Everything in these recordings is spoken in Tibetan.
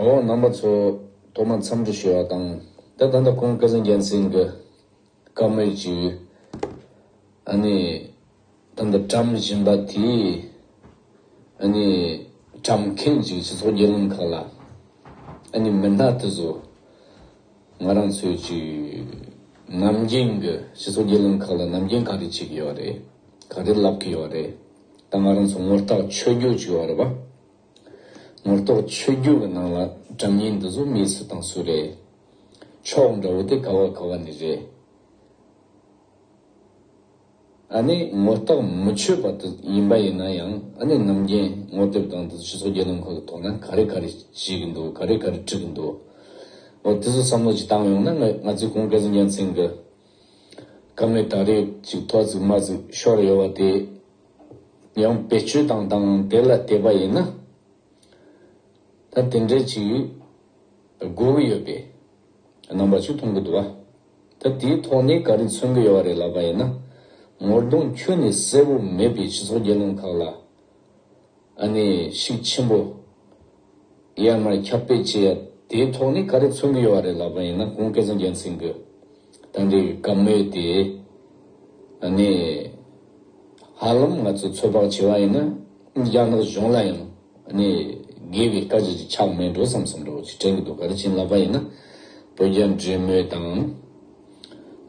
འོ་ནང་པ་ཚོ་ཐོག་མར་འཚམས་འདྲི་ཞུ་བ་དང། དེ་ད་ལྟ་ཁོང་སྐལ་བཟང་རྒྱལ་མཚན་གྱི་བཀའ་མོལ་གྱི་ཨ་ནི་ད་ལྟ་བཀྲམ་བཞིན་པ་དེ་ཨ་ནི་བཀྲམ་མཁན་གྱི་སྤྱི་ཚོགས་རྒྱལ་ལམ་ཁག་ལ་ཨ་ནི་མི་སྣ་དེ་ཚོ་ང་རང་ཚོའི་གྱི་ནམ་རྒྱུན་གྱི་སྤྱི་ཚོགས་རྒྱལ་ལམ་ཁག་ལ་ནམ་རྒྱུན་ག་རེ་བྱེད་ཀྱི་ཡོད་རེད། ག་རེ་ལབ་ཀྱི་ཡོད་རེད། ད་ང་རང་ཚོ་ངོ་རྟགས་ཆོས་བརྒྱུད་ཅིག་ཡོད་རེད་བ། ངོ་རྟོགས་ཆོས་བརྒྱུད་ཀྱི་ནང་ལ་དགྲ་གཉེན་འདི་ཚོ་མི་སུ་དང་སུ་རེད། ཕྱོགས་འདྲ་བོ་དེ་ག་བ་ག་བ་ནས་རེད། ཨ་ནི་ངོ་རྟགས་མི་ཆོས་པ་དེ་ཡིན་པ་ཡིན་ན་ཡང་ཨ་ནི་ནམ་རྒྱན་ངོ་དེབ་དང་དེ་ཚོ་སྤྱི་ཚོགས་རྒྱུ་ནོམ་ཁག་གི་ཐོག་ན་ག་རེ་ག་རེ་བྱེད་གི་འདུག་ག་རེ་ག་རེ་བྲིས་གི་འདུག་འོ་དེ་ཚོ་བསམ་བློ་ཅིག་བཏང་ཡོང་ན་ང་ཚོའི་ཁོང་སྐལ་བཟང་རྒྱལ་མཚན་གྱི་གང་ལས་ད་རེས་ཚིག་ཐོག་རྫུན་མ་ཟིག་ཤོར་ཡོད་བ་དེ་ཡང་བེད་སྤྱོད་དང་དང་དེ་ལ་བལྟས་པ་ཡིན་ན། ད་དེ་འདྲས་ཅིག་དགོས་ཀྱི་ཡོད་པའི་རྣམ་པ་ཅིག་མཐོང་གི་འདུག་ད་དེའི་ཐོག་ནས་ག་རེ་མཚོན་གྱི་ཡོད་བ་རེད་ལབ་པ་ཡིན་ན། ངོ་གདོང་ཁྱོན་ནས་གསལ་བོ་མེད་པའི་སྤྱི་ཚོགས་དགེ་སློང་ཁག་ལ་ཨ་ནེ་ཤིག་ཆེན་པོ། ཡར་མར་ཁྱབ་སྤེལ་བྱེད་ཡ་དེའི་ཐོག་ནས་ག་རེ་མཚོན་གྱི་ཡོད་བ་རེད་ལབ་པ་ཡིན་ན་གོང་སྐལ་བཟང་རྒྱལ་མཚན་གྱི་དང་འབྲེལ་བའི་བཀའ་མོལ་དེ་ཨ་ནེ། ཧ་ལམ་ང་ཚོ་ཚོད་དཔག་བྱེད་བ་ཡིན་ན་རྒྱ་ནག་གཞུང་ལ་ཡང་ཨ་ནེ། དགེ་བའི་བཀའ་བྱེད་ཀྱི་ཆགས་མེད་འགྲོ་བསམ་བསམ་འདྲ་བོ་ཞིག་དྲན་གྱི་འདུག་ག་རེ་བྱིན་ལབ་པ་ཡིན་ན་བོད་རྒྱ་འབྲེལ་མོལ་དང།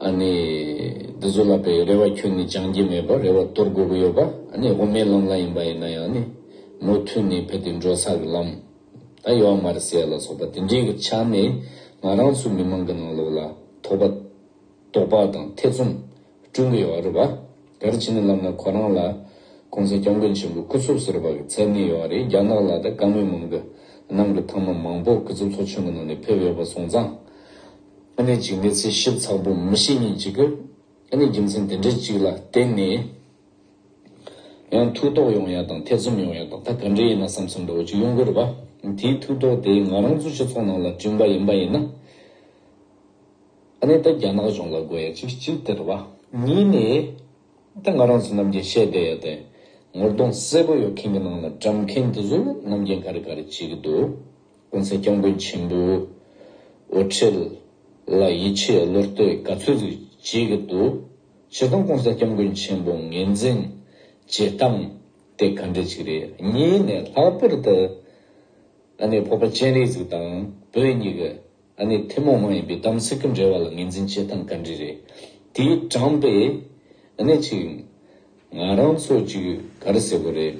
ཨ་ནི། འདི་ཚོ་ལ་བའི་རེ་བ་ཁྱོད་ནི་སྦྱང་གི་མེད་པར་རེ་བ་དོར་དགོས་ཀྱི་ཡོད་པ་ཨ་ནི་དབུ་མའི་ལམ་ལ་ཡིན་པ་ཡིན་ན་ཡང་ནི། མུ་མཐུད་ནས་བས་དེ་འགྲོ་ས་གི་ལམ། ད་ཡོ་ཨ་མ་རི་སེ་ཡ་ལ་སོགས་པ་དེ་འདྲའི་གི་ཆ་ནས་ང་རང་ཚོའི་མི་མང་གི་ནང་ལོགས་ལ་དོགས་པ། དོགས་པ་དང་ཐེ་ཚོམ་བསྐྲུན་གི་ཡོད་བ་རེད་བ། ག་རེ་བྱེད་ནས་ལབ་ན་ཁོ་རང་ལ། གོང་ས་སྐྱབས་མགོན་ཆེན་པོའི་སྐུ་ཚོགས་ཟེར་བ་གི་མཚན་གནས་ཡོད་བ་རེད་རྒྱ་ནག་ལ་ད་ག་མི་མང་གི་ནང་གི་ཐང་མ་མང་པོ་གི་ཚོ་ཚོགས་ཆུང་གི་ནང་ནས་ཕེབས་ཡོད་བ་སོང་ཙང། ཨ་ནེ་འཇིགས་མེད་ཚེ་ཞིབ་ཚང་པོ་མི་ཤེས་ཉིན་གཅིག་གི་ཨ་ནེ་རྒྱུ་མཚན་དེ་འདྲ་གཅིག་ལ་བརྟེན་ནས་ཡང་ཐུགས་དོགས་ཡོང་ཡ་དང་ཐེ་ཚོམ་ཡོང་ཡ་དང་ད་ག་འདྲས་ཡིན་ན་བསམ་བསམ་འདྲ་བོ་གཅིག་ཡོང་གི་རེད་པ། དེའི་ཐུགས་དོགས་དེ་ང་རང་ཚོ་སྤྱི་ཚོགས་ནང་ལ་བསྐྲུན་པ་ཡིན་པ་ཡིན་ན། ཨ་ནེ་ད་རྒྱ་ནག་གཞུང་ལ་དགོས་ཡ་གཅིག་གཅིག་དེ་རེད་པ། གཉིས་ནས་ད་ང་རང་ཚོ་རྣམས་ཀྱིས་བཤད་བསྡད་ཡ་དེ་ངོ་གདོང་གསལ་པོ་ཡོད་མཁན་གྱི་ནང་ལ་བཀྲམ་མཁན་དེ་ཚོ་རྣམས་རྒྱན་ག་རེ་ག་རེ་བྱེད་ཀྱི་འདུག། དགོན་གསར་སྐྱབས་མགོན་ཆེན་པོའི་འོད་འཕྲེལ་ལ་ཡིད་ཆེས་བློ་གཏོད་ག་ཚོད་ཟིག་བྱེད་ཀྱི་འདུག་ཇི་སྟོང་དགོན་གསར་སྐྱབས་མགོན་ཆེན་པོ་ངེས་འཛིན་བྱེད་སྟངས་དེ་ག་འདྲ་ཞིག་རེད་གཉིས་ནས་ལྷག་པར་དུ་ཨ་ནེ་ཕོ་པ་སྤྱན་རས་གཟིགས་དང་བོད་གཉིས་ཀྱི་ཨ་ནེ་ཐུན་མོང་མ་ཡིན་པའི་དམ་ཚིག་གི་འབྲེལ་བ་ལ་ངེས་འཛིན་བྱེད་སྟངས་ག་འདྲ་རེད་དེའི་དྲངས་པའི་གནད་ཅིག་ང་རང་ཚོ་གཅིག་ག་རེ་ཟེར་གི་རེད།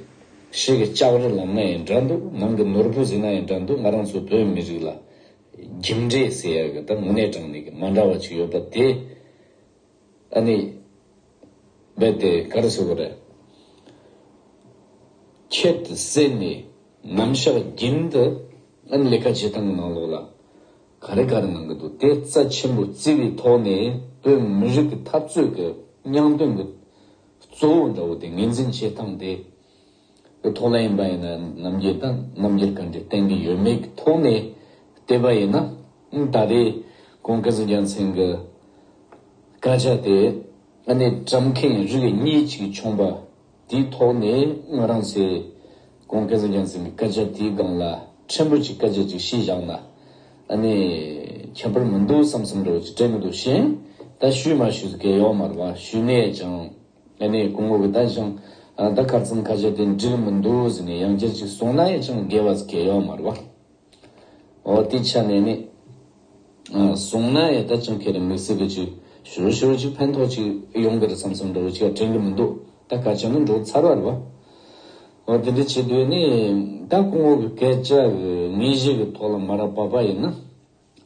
ཤེས་གི་ལྕགས་རི་ལམ་ན་ཡིན་འདྲ་འདུག་ནང་གི་ནོར་བུ་ཟིན་ན་ཡིན་འདྲ་འདུག་ང་རང་ཚོ་བོད་མི་རིགས་ལ། རྒྱུ་འབྲས་ཟེར་ཡག་གི་དང་དངོས་གནས་དྲང་གནས་ཀྱི་མ་འདྲ་བ་གཅིག་ཡོད་པ་དེ། ཨ་ནི། རྦད་དེ་ག་རེ་ཟེར་གི་རེད། ཁྱད་ཟས་ནི་ནམ་ཞག་རྒྱུན་དུ་ཨ་ནི་ལས་ཀ་བྱེད་སྟངས་གི་ནང་ལོགས་ལ། ག་རེ་ག་རེ་གནང་གི་འདུག་དེ་རྩ་ཆེན་པོ་བརྩི་བའི་ཐོག་ནས་བོད་མི་རིགས་ཀྱི་འཐབ་རྩོད་ཀྱི་རྙང་དོན་གྱི་གཙོ་བོ་འདྲ་བོ་དེ་ངེས་འཛིན་བྱེད་སྟངས་དེ་གི་ཐོག་ལ་ཡིན་པ་ཡིན་ན་རྣམ་རྒྱལ་དང་རྣམ་རྒྱལ་ག་འདྲས་བསྟན་གྱི་ཡོད་མེད་ཀྱི་ཐོག་ནས་བལྟས་པ་ཡིན་ན་ད་རེས་ཀོང་ཀཱ་ཟི་རྒྱལ་མཚན་གྱི་སྐད་ཆ་དེ་ཨ་ནེ་བཀྲམ་མཁན་རིགས་གཉིས་གཅིག་བྱུང་པ་དེའི་ཐོག་ནས་ང་རང་ཚོས་གོང་སྐལ་བཟང་རྒྱལ་མཚན་གྱི་སྐད་ཆ་དེའི་སྒང་ལ་ཕྲན་བུ་གཅིག་སྐད་ཆ་གཅིག་བཤད་བཞག་ན་ཨ་ནི་ཁྱད་པར་མི་འདུག་བསམ་བསམ་རེ་བ་ཅིག་སྤྲད་མི་འདུག་ཤེས་ད་ཞུས་མ་ཞུས་སུ་སྐལ་ཡོག་མར་མ་ཞུས་ནས་ཀྱང་ཨ་ནི་སྐུ་ངོ་གི་ད་ཅང་ད་གར་ཙམ་ཁ་ཆད་དེ་འགྲིལ་མི་འདུག་ཟེར་ནས་ཡང་བསྐྱར་ཅིག་གསུངས་ན་ཡང་ཅང་དགེ་བ་ཟེར་སྐལ་ཡོག་མར་བ། ཨོ་དེ་ཆ་མེད་མེད། གསུང་ན་ཡ་ད་ཅང་ཁྱེད་རང་མིག་ཟེར་གི་ཅིག་ཞོར་ཞོར་ཅིག་ཕན་ཐོག་ཅིག་ཡོང་གི་རེད་བསམ་བསམ་འདྲ་བོ་ཅིག་ཡ་དྲན་གི་མི་འདུག་ད་ག་ཅང་ནས་འགྲོ་ཚར་བ་རེད་བ། ཨོ་དེ་འདྲ་བྱེད་དུས་ནི་ད་གོང་འོག་གི་སྐད་ཆ་ངེས་གཞི་གི་ཐོག་ལ་མ་ར་བ་བ་ཡིན་ན་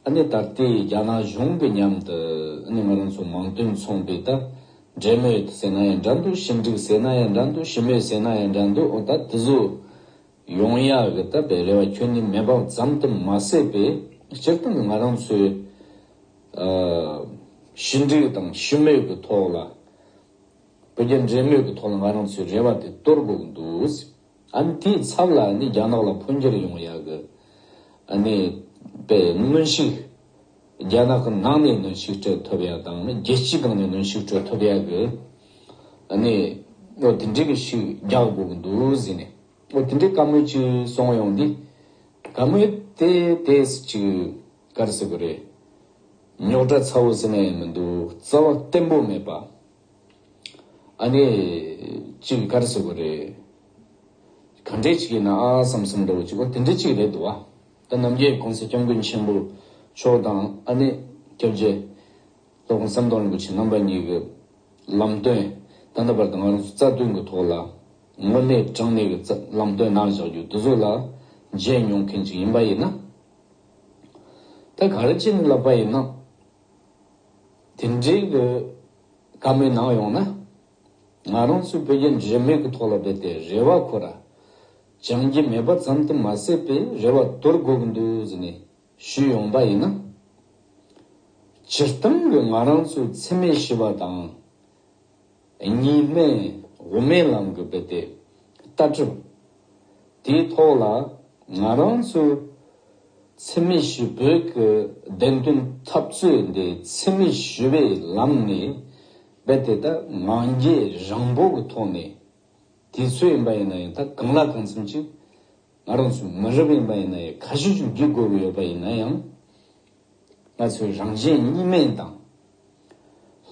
ཨ་ནི་ད་ལྟའི་རྒྱ་ནག་གཞུང་གི་མཉམ་དུ་ཨ་ནི་ང་རང་ཚོ་མང་དོན་ཚོང་པའི་ད་འབྲེལ་མོལ་ཟེར་ན་ཡང་འདྲ་འདུག་ཞིབ་འབྲིག་ཟེར་ན་ཡང་འདྲ་འདུག་ཞིབ་མོལ་ཟེར་ན་ཡང་འདྲ་འདུག་ཨོ་ད་དེ་ཚོ་ཡོང་ཡག་རེད་ད་བེ་རེ་བ་ཁྱོད་ནི་མེ་འབག་ཙམ་དུ་མ་ཟད་པའི་སྤྱིར་བཏང་གི་ང་རང་ཚོའི་ཞི་འགྲིག་དང་ཞི་མོལ་གྱི་ཐོག་ལ་བོད་རྒྱ་འབྲེལ་མོལ་གྱི་ཐོག་ལ་ང་རང་ཚོའི་རེ་བ་དེ་གཏོར་དགོས་འདུག་ཨཱ་དེའི་ཚབ་ལ་ནི་རྒྱ་ནག་ལ་འཕོ་འགྱུར་ཡོང་ཡག་གི་ཨཱ་ནི་བེ་སྔོན་ཞིག་རྒྱ་ནག་གི་ནང་ནས་གནོན་ཤུགས་སྤྲོད་ཐུབ་ཡ་དང་ནི་རྒྱལ་སྤྱིའི་སྒང་ནས་གནོན་ཤུགས་སྤྲོད་ཐུབ་ཡ་གི་ནི་ཨོ་དེ་འདྲའི་གི་ཤུགས་རྒྱག་དགོས་གི་འདུག་ཟེར་ནས་ཨོ་དེ་འདྲའི་བཀའ་མོལ་གཅིག་སོང་ཡོང་དེ་བཀའ་མོལ་དེ་དེ་སུ་གཅིག་གར་ཟེར་གི་རེད་རྙོག་དྲ་ཚ་བོ་ཟེར་ན་ཡང་མི་འདུག་རྩ་བ་བརྟན་པོ་མེད་པ་ཨ་ནི་གཅིག་གར་ཟེར་གི་རེད་ག་འདྲས་གཅིག་ཡིན་ན་ཨ་བསམ་བསམ་འདྲ་བོ་གཅིག་ཨོ་དེ་འདྲས་གཅིག་རེད་འདུག་བ། ད་རྣམ་རྒྱལ་གོང་ས་སྐྱབས་མགོན་ཆེན་པོ་མཆོག་དང་ཨ་ནེ་སྐྱབས་རྗེ། ལྷོ་ཁ་ཟམ་གདོང་རིན་པོ་ཆེ་རྣམ་པ་གཉིས་ཀྱི་ལམ་སྟོན་ད་ལྟ་བར་དུ་ང་རང་ཚོ་རྩ་དོན་གྱི་ཐོག་ལ་དངོས་གནས་དྲང་གནས་ཀྱི་ལམ་སྟོན་གནང་བཞག་རྒྱུ་འདི་ཚོ་ལ་མཇལ་མྱོང་མཁན་ཅིག་ཡིན་པ་ཡིན་ན། ད་ག་རེ་ཅིན་ལབ་པ་ཡིན་ནམ། དེ་འདྲའི་གི་ཀ་མེད་གནང་ཡོང་ན། ང་རང་ཚོའི་བོད་རྒྱ་འདྲེས་མེད་ཀྱི་ཐོག་ལ་རྦད་དེ་རེ་བ་ཁོ་ར། སྦྱང་གི་མེད་པ་ཙམ་དུ་མ་ཟད་པའི་རེ་བ་དོར་དགོས་འདུག་ཟེར་ནས་ཞུས་ཡོང་པ་ཡིན་ན། སྤྱིར་བཏང་གི་ང་རང་ཚོའི་འཚེ་མེད་ཞི་བ་དང། གཉིས་སྨན་དབུ་མའི་ལམ་གྱི་དཔེ་དེབ་ལྟ་གྲུབ་དེའི་ཐོག་ལ་ང་རང་ཚོའི་འཚེ་མེད་ཞི་བོད་ཀྱི་བདེན་དོན་འཐབ་རྩོད་འདི་འཚེ་མེད་ཞི་བའི་ལམ་ནས་རྦད་དེ་ད་ང་རྒྱལ་རིང་པོ་གི་ཐོག་ནས་དེ་ཚོད་ཡིན་པ་ཡིན་ན་ཡང་ད་གང་ལ་གང་འཚམ་ཅིག་ང་རང་ཚོ་མི་རབས་ཡིན་པ་ཡིན་ན་ཡང་ཁ་ཤས་ཤིག་བསྒྲིག་དགོས་ཀྱི་ཡོད་པ་ཡིན་ན་ཡང། ང་ཚོའི་རང་གཞན་གཉིས་མེད་དང།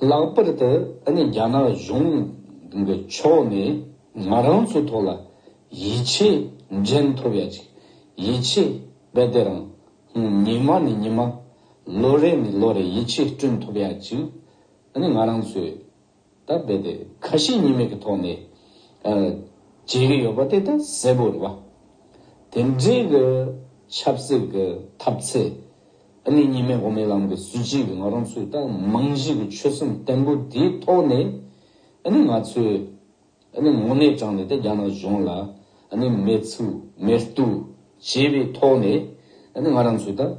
ལྷག་པར་དུ་ཨ་ནི་རྒྱ་ནག་གཞུང་གི་ཕྱོགས་ནས་ང་རང་ཚོའི་ཐོག་ལ་ཡིད་ཆེས་འགྲན་ཐུབ་ཡ་ཅིག་ཡིད་ཆེས་རྦད་དེ་རང་ཉིན་མ་ནས་ཉིན་མ་ལོ་རེ་ནས་ལོ་རེ་ཡིད་ཆེས་བསྐྲུན་ཐུབ་ཡ་ཅིག་ཨ་ནི་ང་རང་ཚོའི། ད་རྦད་དེ་ཁ་ཞེ་གཉིས་མེད་ཀྱི་ཐོག་ནས་བྱེད་ཀྱི་ཡོད་པ་དེ་ད་གསལ་པོ་རེད་བ། དེ་འབྲེལ་གྱི་ཆབ་སྲིད་ཀྱི་ཐབས་ཚད་ནི་གཉིས་མེད་དབུ་མའི་ལམ་གྱི་སྲིད་བྱུས་ཀྱི་ང་རང་ཚོའི་ད་རྨང་གཞི་གྱི་ཆོད་སེམས་བརྟན་པོ་དེའི་ཐོག་ནས་ང་ཚོས་ངོ་གནས་དྲངས་ནས་ད་རྒྱ་ནག་གཞུང་ལ་མེ་ཚུགས་མེ་བརྟུལ་བྱེད་པའི་ཐོག་ནས་ང་རང་ཚོས་ད།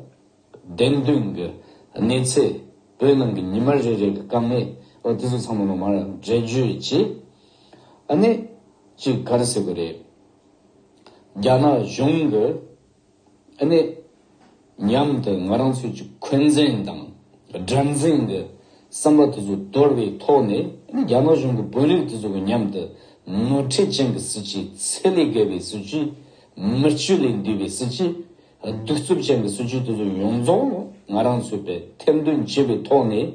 བདེན་དོན་གྱི་གནས་ཚད་བོད་ནང་གི་ཉི་མ་རེ་རེ་གི་དཀའ་ངལ་འོ་དེ་ཚོ་ཚང་མ་ནོར་མར་འགྲེལ་བརྗོད་བྱེད་གནས་ཅིག་ག་རེ་སྲིད་པ་རེད། རྒྱ་ནག་གཞུང་གི་གནས་ཉམས་དེ་ང་རང་ཚོས་ཀྱི་འཁོན་འཛིན་དང་དགྲར་འཛིན་གི་བསམ་པ་དེ་ཚོ་དོར་བའི་ཐོག་ནས་རྒྱ་ནག་གཞུང་གི་དཔོན་རིགས་དེ་ཚོ་གི་ཉམས་དེ་ནོར་འཁྲེལ་ཅན་གི་སྲིད་སྤྱི་ཚད་ལས་བརྒལ་བའི་སྲིད་སྤྱི་མི་སྤྱི་ལས་འདས་པའི་སྲིད་སྤྱི་གདུག་རྩུབ་ཅན་གྱི་སྲིད་ཇུས་དེ་ཚོ་ཡོངས་རྫོགས་ང་རང་ཚོས་པའི་ཐེར་འདོན་བྱས་པའི་ཐོག་ནས་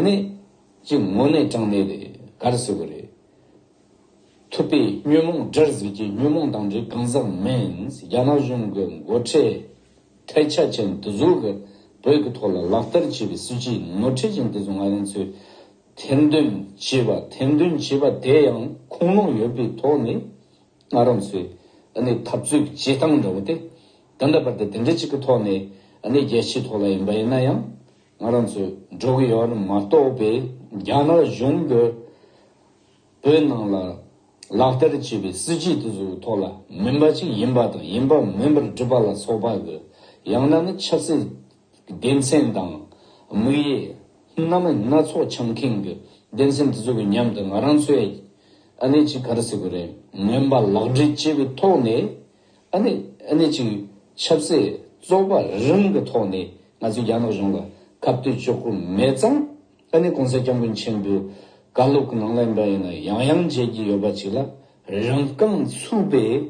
ནི་ཅི་ངོ་ནས་དྲང་གནས་རེད་གར་ཟེར་བ་རེད། ཐུབ་པས་ཉོན་མོངས་དགྲར་གཟིགས་ཀྱི་ཉོན་མོངས་དང་འདྲེ་གང་ཟག་མིན་རྒྱ་ནག་གཞུང་གི་མགོ་ཁྲིད་ཐལ་ཆ་ཅན་དེ་ཚོ་གི་བོད་ཀྱི་ཐོག་ལ་ལག་བསྟར་བྱས་པའི་སྲིད་ཇུས་ནོར་འཁྲེལ་ཅན་དེ་ཚོ་ང་རང་ཚོས་ཐེར་འདོན་བྱས་པ་ཐེར་འདོན་བྱས་པ་དེ་ཡང་ཁུངས་ལུང་ཡོད་པའི་ཐོག་ནས། ངྷ་རམས་སུའི་འཐབ་རྩོད་ཀྱི་བྱེད་སྟངས་འདྲ་བོ་སྟེ། དེ་འདྲ་བར་དུ་དེ་འདྲ་གཅིག་གི་ཐོག་ནས་རྒྱལ་སྤྱིའི་ཐོག་ལ་ཡིན་པ་ཡིན་ན་ཡང་ངྷ་རམས་སུ་འགྲོ་གི་ཡོད་ནི་མ་གཏོགས་པའི་རྒྱ་ནག་གཞུང་གི་བོད་ནང་ལ་ལག་བསྟར་བྱས་པའི་སྲིད་བྱུས་དེ་ཚོའི་ཐོག་ལ་མིན་པ་གཅིག་ཡིན་པ་དང་ཡིན་པ་མིན་པར་སྒྲུབ་པ་ལ་སོགས་པ་གི་ཡང་ན་ནི་ཆབ་སྲིད་སྡེ་ཚན་དང། དམིགས་ཡས། སྣ་མ་སྣ་ཚོགས་འཆམ་ཁེངས་ཀྱི་སྡེ་ཚན་དེ་ཚོ་གི་མཉམ་དུ་ང་རང་ཚོས་ཨ་ནེ་ཅིག་ག་རེ་ཟེར་དགོས་རེད་མོན་པ་ལག་འབྲེལ་བཅས་པའི་ཐོག་ནས་ཨ་ནེ་ཨ་ནེ་ཅིག་ཆབ་སྲིད་བཙོག་པ་རིང་གི་ཐོག་ནས་ང་ཚོས་རྒྱ་ནག་གཞུང་ལ་ཁ་བཏོད་བཅོག་གི་མེད་ཙང་ཨ་ནེ་གོང་ས་སྐྱབས་མགོན་ཆེན་པོའི་བཀའ་སློབ་གི་ནང་ལེན་པ་ཡིན་ན་ཡང་ཡང་མཇལ་གྱི་ཡོད་པ་ཅིག་ལ་རང་རྐང་ཚུགས་པའི།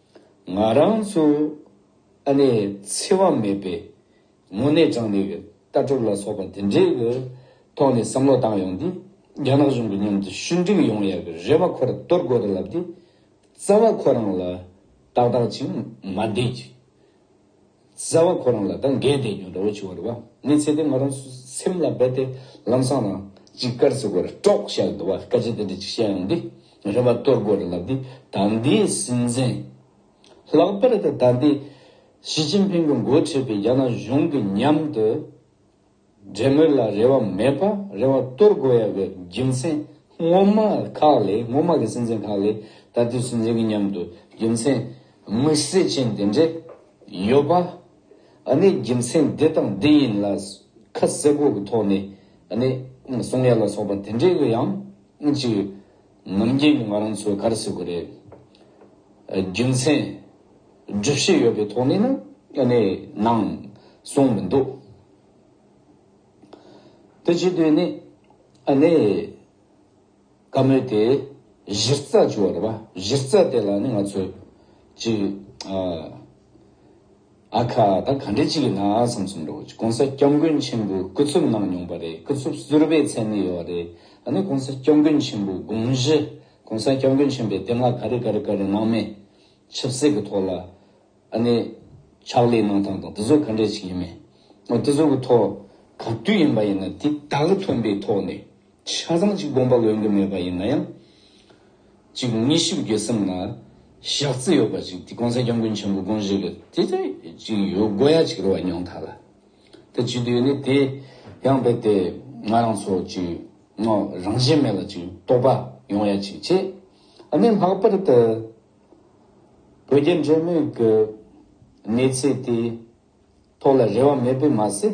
ང་རང་ཚོ་ཨ་ནེ་འཚེ་བ་མེད་པའི་ངོ་ནས་ཀྱང་ནེ་ཝེ་ཀ་ཀྲོ་ལ་སོགས་པ་དེ་འདྲའི་གི་ཐོག་ནས་བསམ་བློ་བཏང་ཡོང་དུས་རྒྱ་ནག་གཞུང་གི་མཉམ་དུ་ཞུ་འགྲིག་ཡོང་ཡ་གི་རེ་བ་ཁོ་ར་གཏོར་དགོས་ར་ལབ་དེ་རྩ་བ་ཁོ་རང་ལ་ཏག་ཏག་ཅིག་མ་བསྡད་ཅིག་གསལ་བ་ཁོ་རང་ལ་དང་འགལ་ཟླའི་ཉོན་འདྲ་བོ་བྱུང་བར་བ་ངའི་ཚེ་དེ་ང་རང་སེམས་ལ་རྦད་དེ་ལམ་སང་ན་ཅིག་དཀར་ཟེར་བར་ཀྲོག་བཞག་འདུག་བ་སྐད་ཆ་དེ་འདྲ་ཅིག་བཤད་ཡང་འདི་ངས་རེ་བ་གཏོར་རྒོལ་རེ་ལབ་དུས་ད་འདིའི་སྲིད་འཛིན་ལྷག་པར་དུ་ད་ལྟའི་ཞི་ཅིན་ཕིང་གི་མགོ་ཁྲིད་པའི་རྒྱ་ནག་གཞུང་གི་མཉམ་དུ། འབྲེལ་མོལ་ལ་རེ་བ་མེད་པར་རེ་བ་གཏོར་དགོས་ཡག་གི་རྒྱུ་མཚན་སྔོན་མ་ཁག་ལས་སྔོན་མ་གི་སྲིད་འཛིན་ཁག་ལས་ད་ལྟའི་སྲིད་འཛིན་གི་མཉམ་དུ་རྒྱུ་མཚན་དམིགས་བསལ་ཅན་དེ་འདྲས་ཡོད་པ་ཨ་ནི་རྒྱུ་མཚན་འདི་དང་འདི་ཡིན་ལ་ཁ་གསལ་པོ་གི་ཐོག་ནས་ཨ་ནི་གསུང་ཡ་ལ་སོགས་པ་དེ་འདྲས་གི་ཡང་ཅིག་ངོམ་རྒྱན་གྱི་ང་རང་ཚོའི་གར་སའི་གོ་རེ། རྒྱུ་མཚན། སྒྲུབ་བྱེད་ཡོད་པའི་ཐོག་ནས་ནི་ཨ་ནེ་ནང་གསུངས་མི་འདུག། དེ་བྱེད་དུས་ནི་ཨ་ནེ། བཀའ་མོལ་དེ་གཞིར་རྩ་བཅུག་བ་རེད་བ། གཞིར་རྩ་དེ་ལ་ནི་ང་ཚོས་ཅིག། ཨ་ཁ། ད་ག་འདྲེ་ཅིག་གི་ནང་ཨ་སང་ཚུམ་རོ། གོང་ས་སྐྱབས་མགོན་ཆེན་པོའི་སྐུ་ཚུབ་གནང་མྱོང་པ་རེད་སྐུ་ཚུབ་གསུར་པའི་མཚན་ནི་ཡོད་རེད་ད་ནི་གོང་ས་སྐྱབས་མགོན་ཆེན་པོའི་དགོངས་གཞི་གོང་ས་སྐྱབས་མགོན་ཆེན་པོའི་བསྟན་ལ་ག་རེ་ག་རེ་ག་རེ་གནང་མེད་ཆབ་སྲིད་གི་ཐོག་ལ་ཨ་ནི་ཕྱག་ལས་གནང་སྟངས་དང་དེ་ཚོ་ག་འདྲེ་ཅིག་ཡིན་མིན་དེ་ཚོ་གི་ཐོག་ག་དུས་ཡིན་པ་ཡིན་ན་དེ་དག་ལ་ཐོན་པའི་ཐོག་ནས། ཆ་ཚང་གཅིག་དགོངས་པ་འོས་འགྲོ་མེད་པ་ཡིན་ན་ཡང། གཅིག་དངོས་གཞི་དགེ་སེམས་ལ་བཞག་རྩིས་ཡོད་པ་ཅིག་དེ་ཀོང་ས་སྐྱབས་མགོན་ཆེན་པོ་དགོངས་བཞེས་ཀྱི་དེ་ཚོད་ཅིག་ཡོད་དགོས་ཡ་གཅིག་རེད་བ་ཉོང་ཐག་ལ། དེ་བྱེད་དུས་ནི་དེ་ཡང་རྦད་དེ་ང་རང་ཚོ་གཅིག་ངོ་རང་བཞིན་མེད་ལ་གཅིག་རྟོགས་པ་ཡོང་ཡ་གཅིག་བྱེད། ཨ་ནི་ལྷག་པར་དུ་བོད་རྒྱ་འབྲེལ་མོལ་གྱི་གནས་ཚད་དེ་ཐོག་ལ་རེ་བ་མེད་པས་མ་ཟད།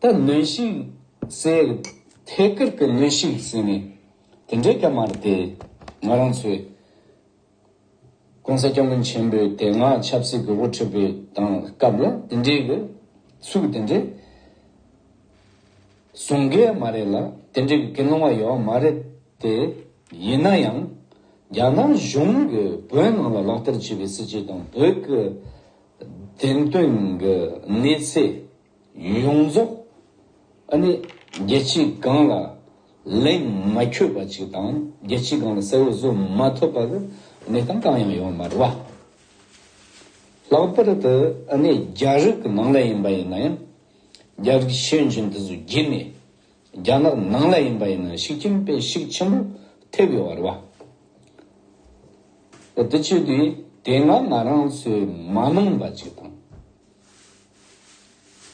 ད་ནུས་ཤིང་ཟེར། ཐད་ཀར་གྱི་ནུས་ཤིང་ཟེར་ནས་དེ་འདྲས་ཀྱང་མ་རེད་དེ། ང་རང་ཚོས ྋགོང་ས ྋསྐྱབས་མགོན་ཆེན་པོའི་དེ་སྔ་ཆབ་སྲིད་ཀྱི་དབུ་ཁྲིད་པའི་དང་སྐབས་ལ་དེ་འདྲས་ཀྱི་ཚུལ་དེ་འདྲས་བཟུང་གི་ཡང་མ་རེད་ལ་དེ་འདྲས་ཀྱི་ཀི་སློང་བ་ཡོད་ཡང་མ་རེད་དེ། ཡིན་ན་ཡང་རྒྱ་ནག་གཞུང་གིས་བོད་ནང་ལ་ལག་བསྟར་བྱས་པའི་སྲིད་བྱུས་དང་བོད་ཀྱི་དེང་དོན་གྱི་གནས་ཚད་ཡོངས་རྫོགས་ནི་རྒྱལ་སྤྱིའི་སྒང་ལ་ལན་མ་འཁྱོལ་བ་ཅིག་དང་རྒྱལ་སྤྱིའི་སྒང་ལ་གསལ་བོ་བཟོ་མ་ཐུབ་པར་གནས་སྟངས་གང་ཡང་ཡོད་མ་རེད། ལྷག་པར་དུ་རྒྱ་རིགས་ནང་ལ་ཡིན་པ་ཡིན་ན་ཡང་རྒྱ་རིགས་ཤེས་འཇོན་དེ་ཚོ་བརྒྱུད་ནས། རྒྱ་ནག་ནང་ལ་ཡིན་པ་ཡིན་ན་ཤིག་ཁྱིམ་དཔེ་ཤིག་ཆེན་པོ་ཐེབས་ཡོད་བ་རེད་བ། ཨ་དེ་ཆོས་དུས་དེ་སྔ་ང་རང་ཚོའི་མ་མང་པ་ཅིག་དང།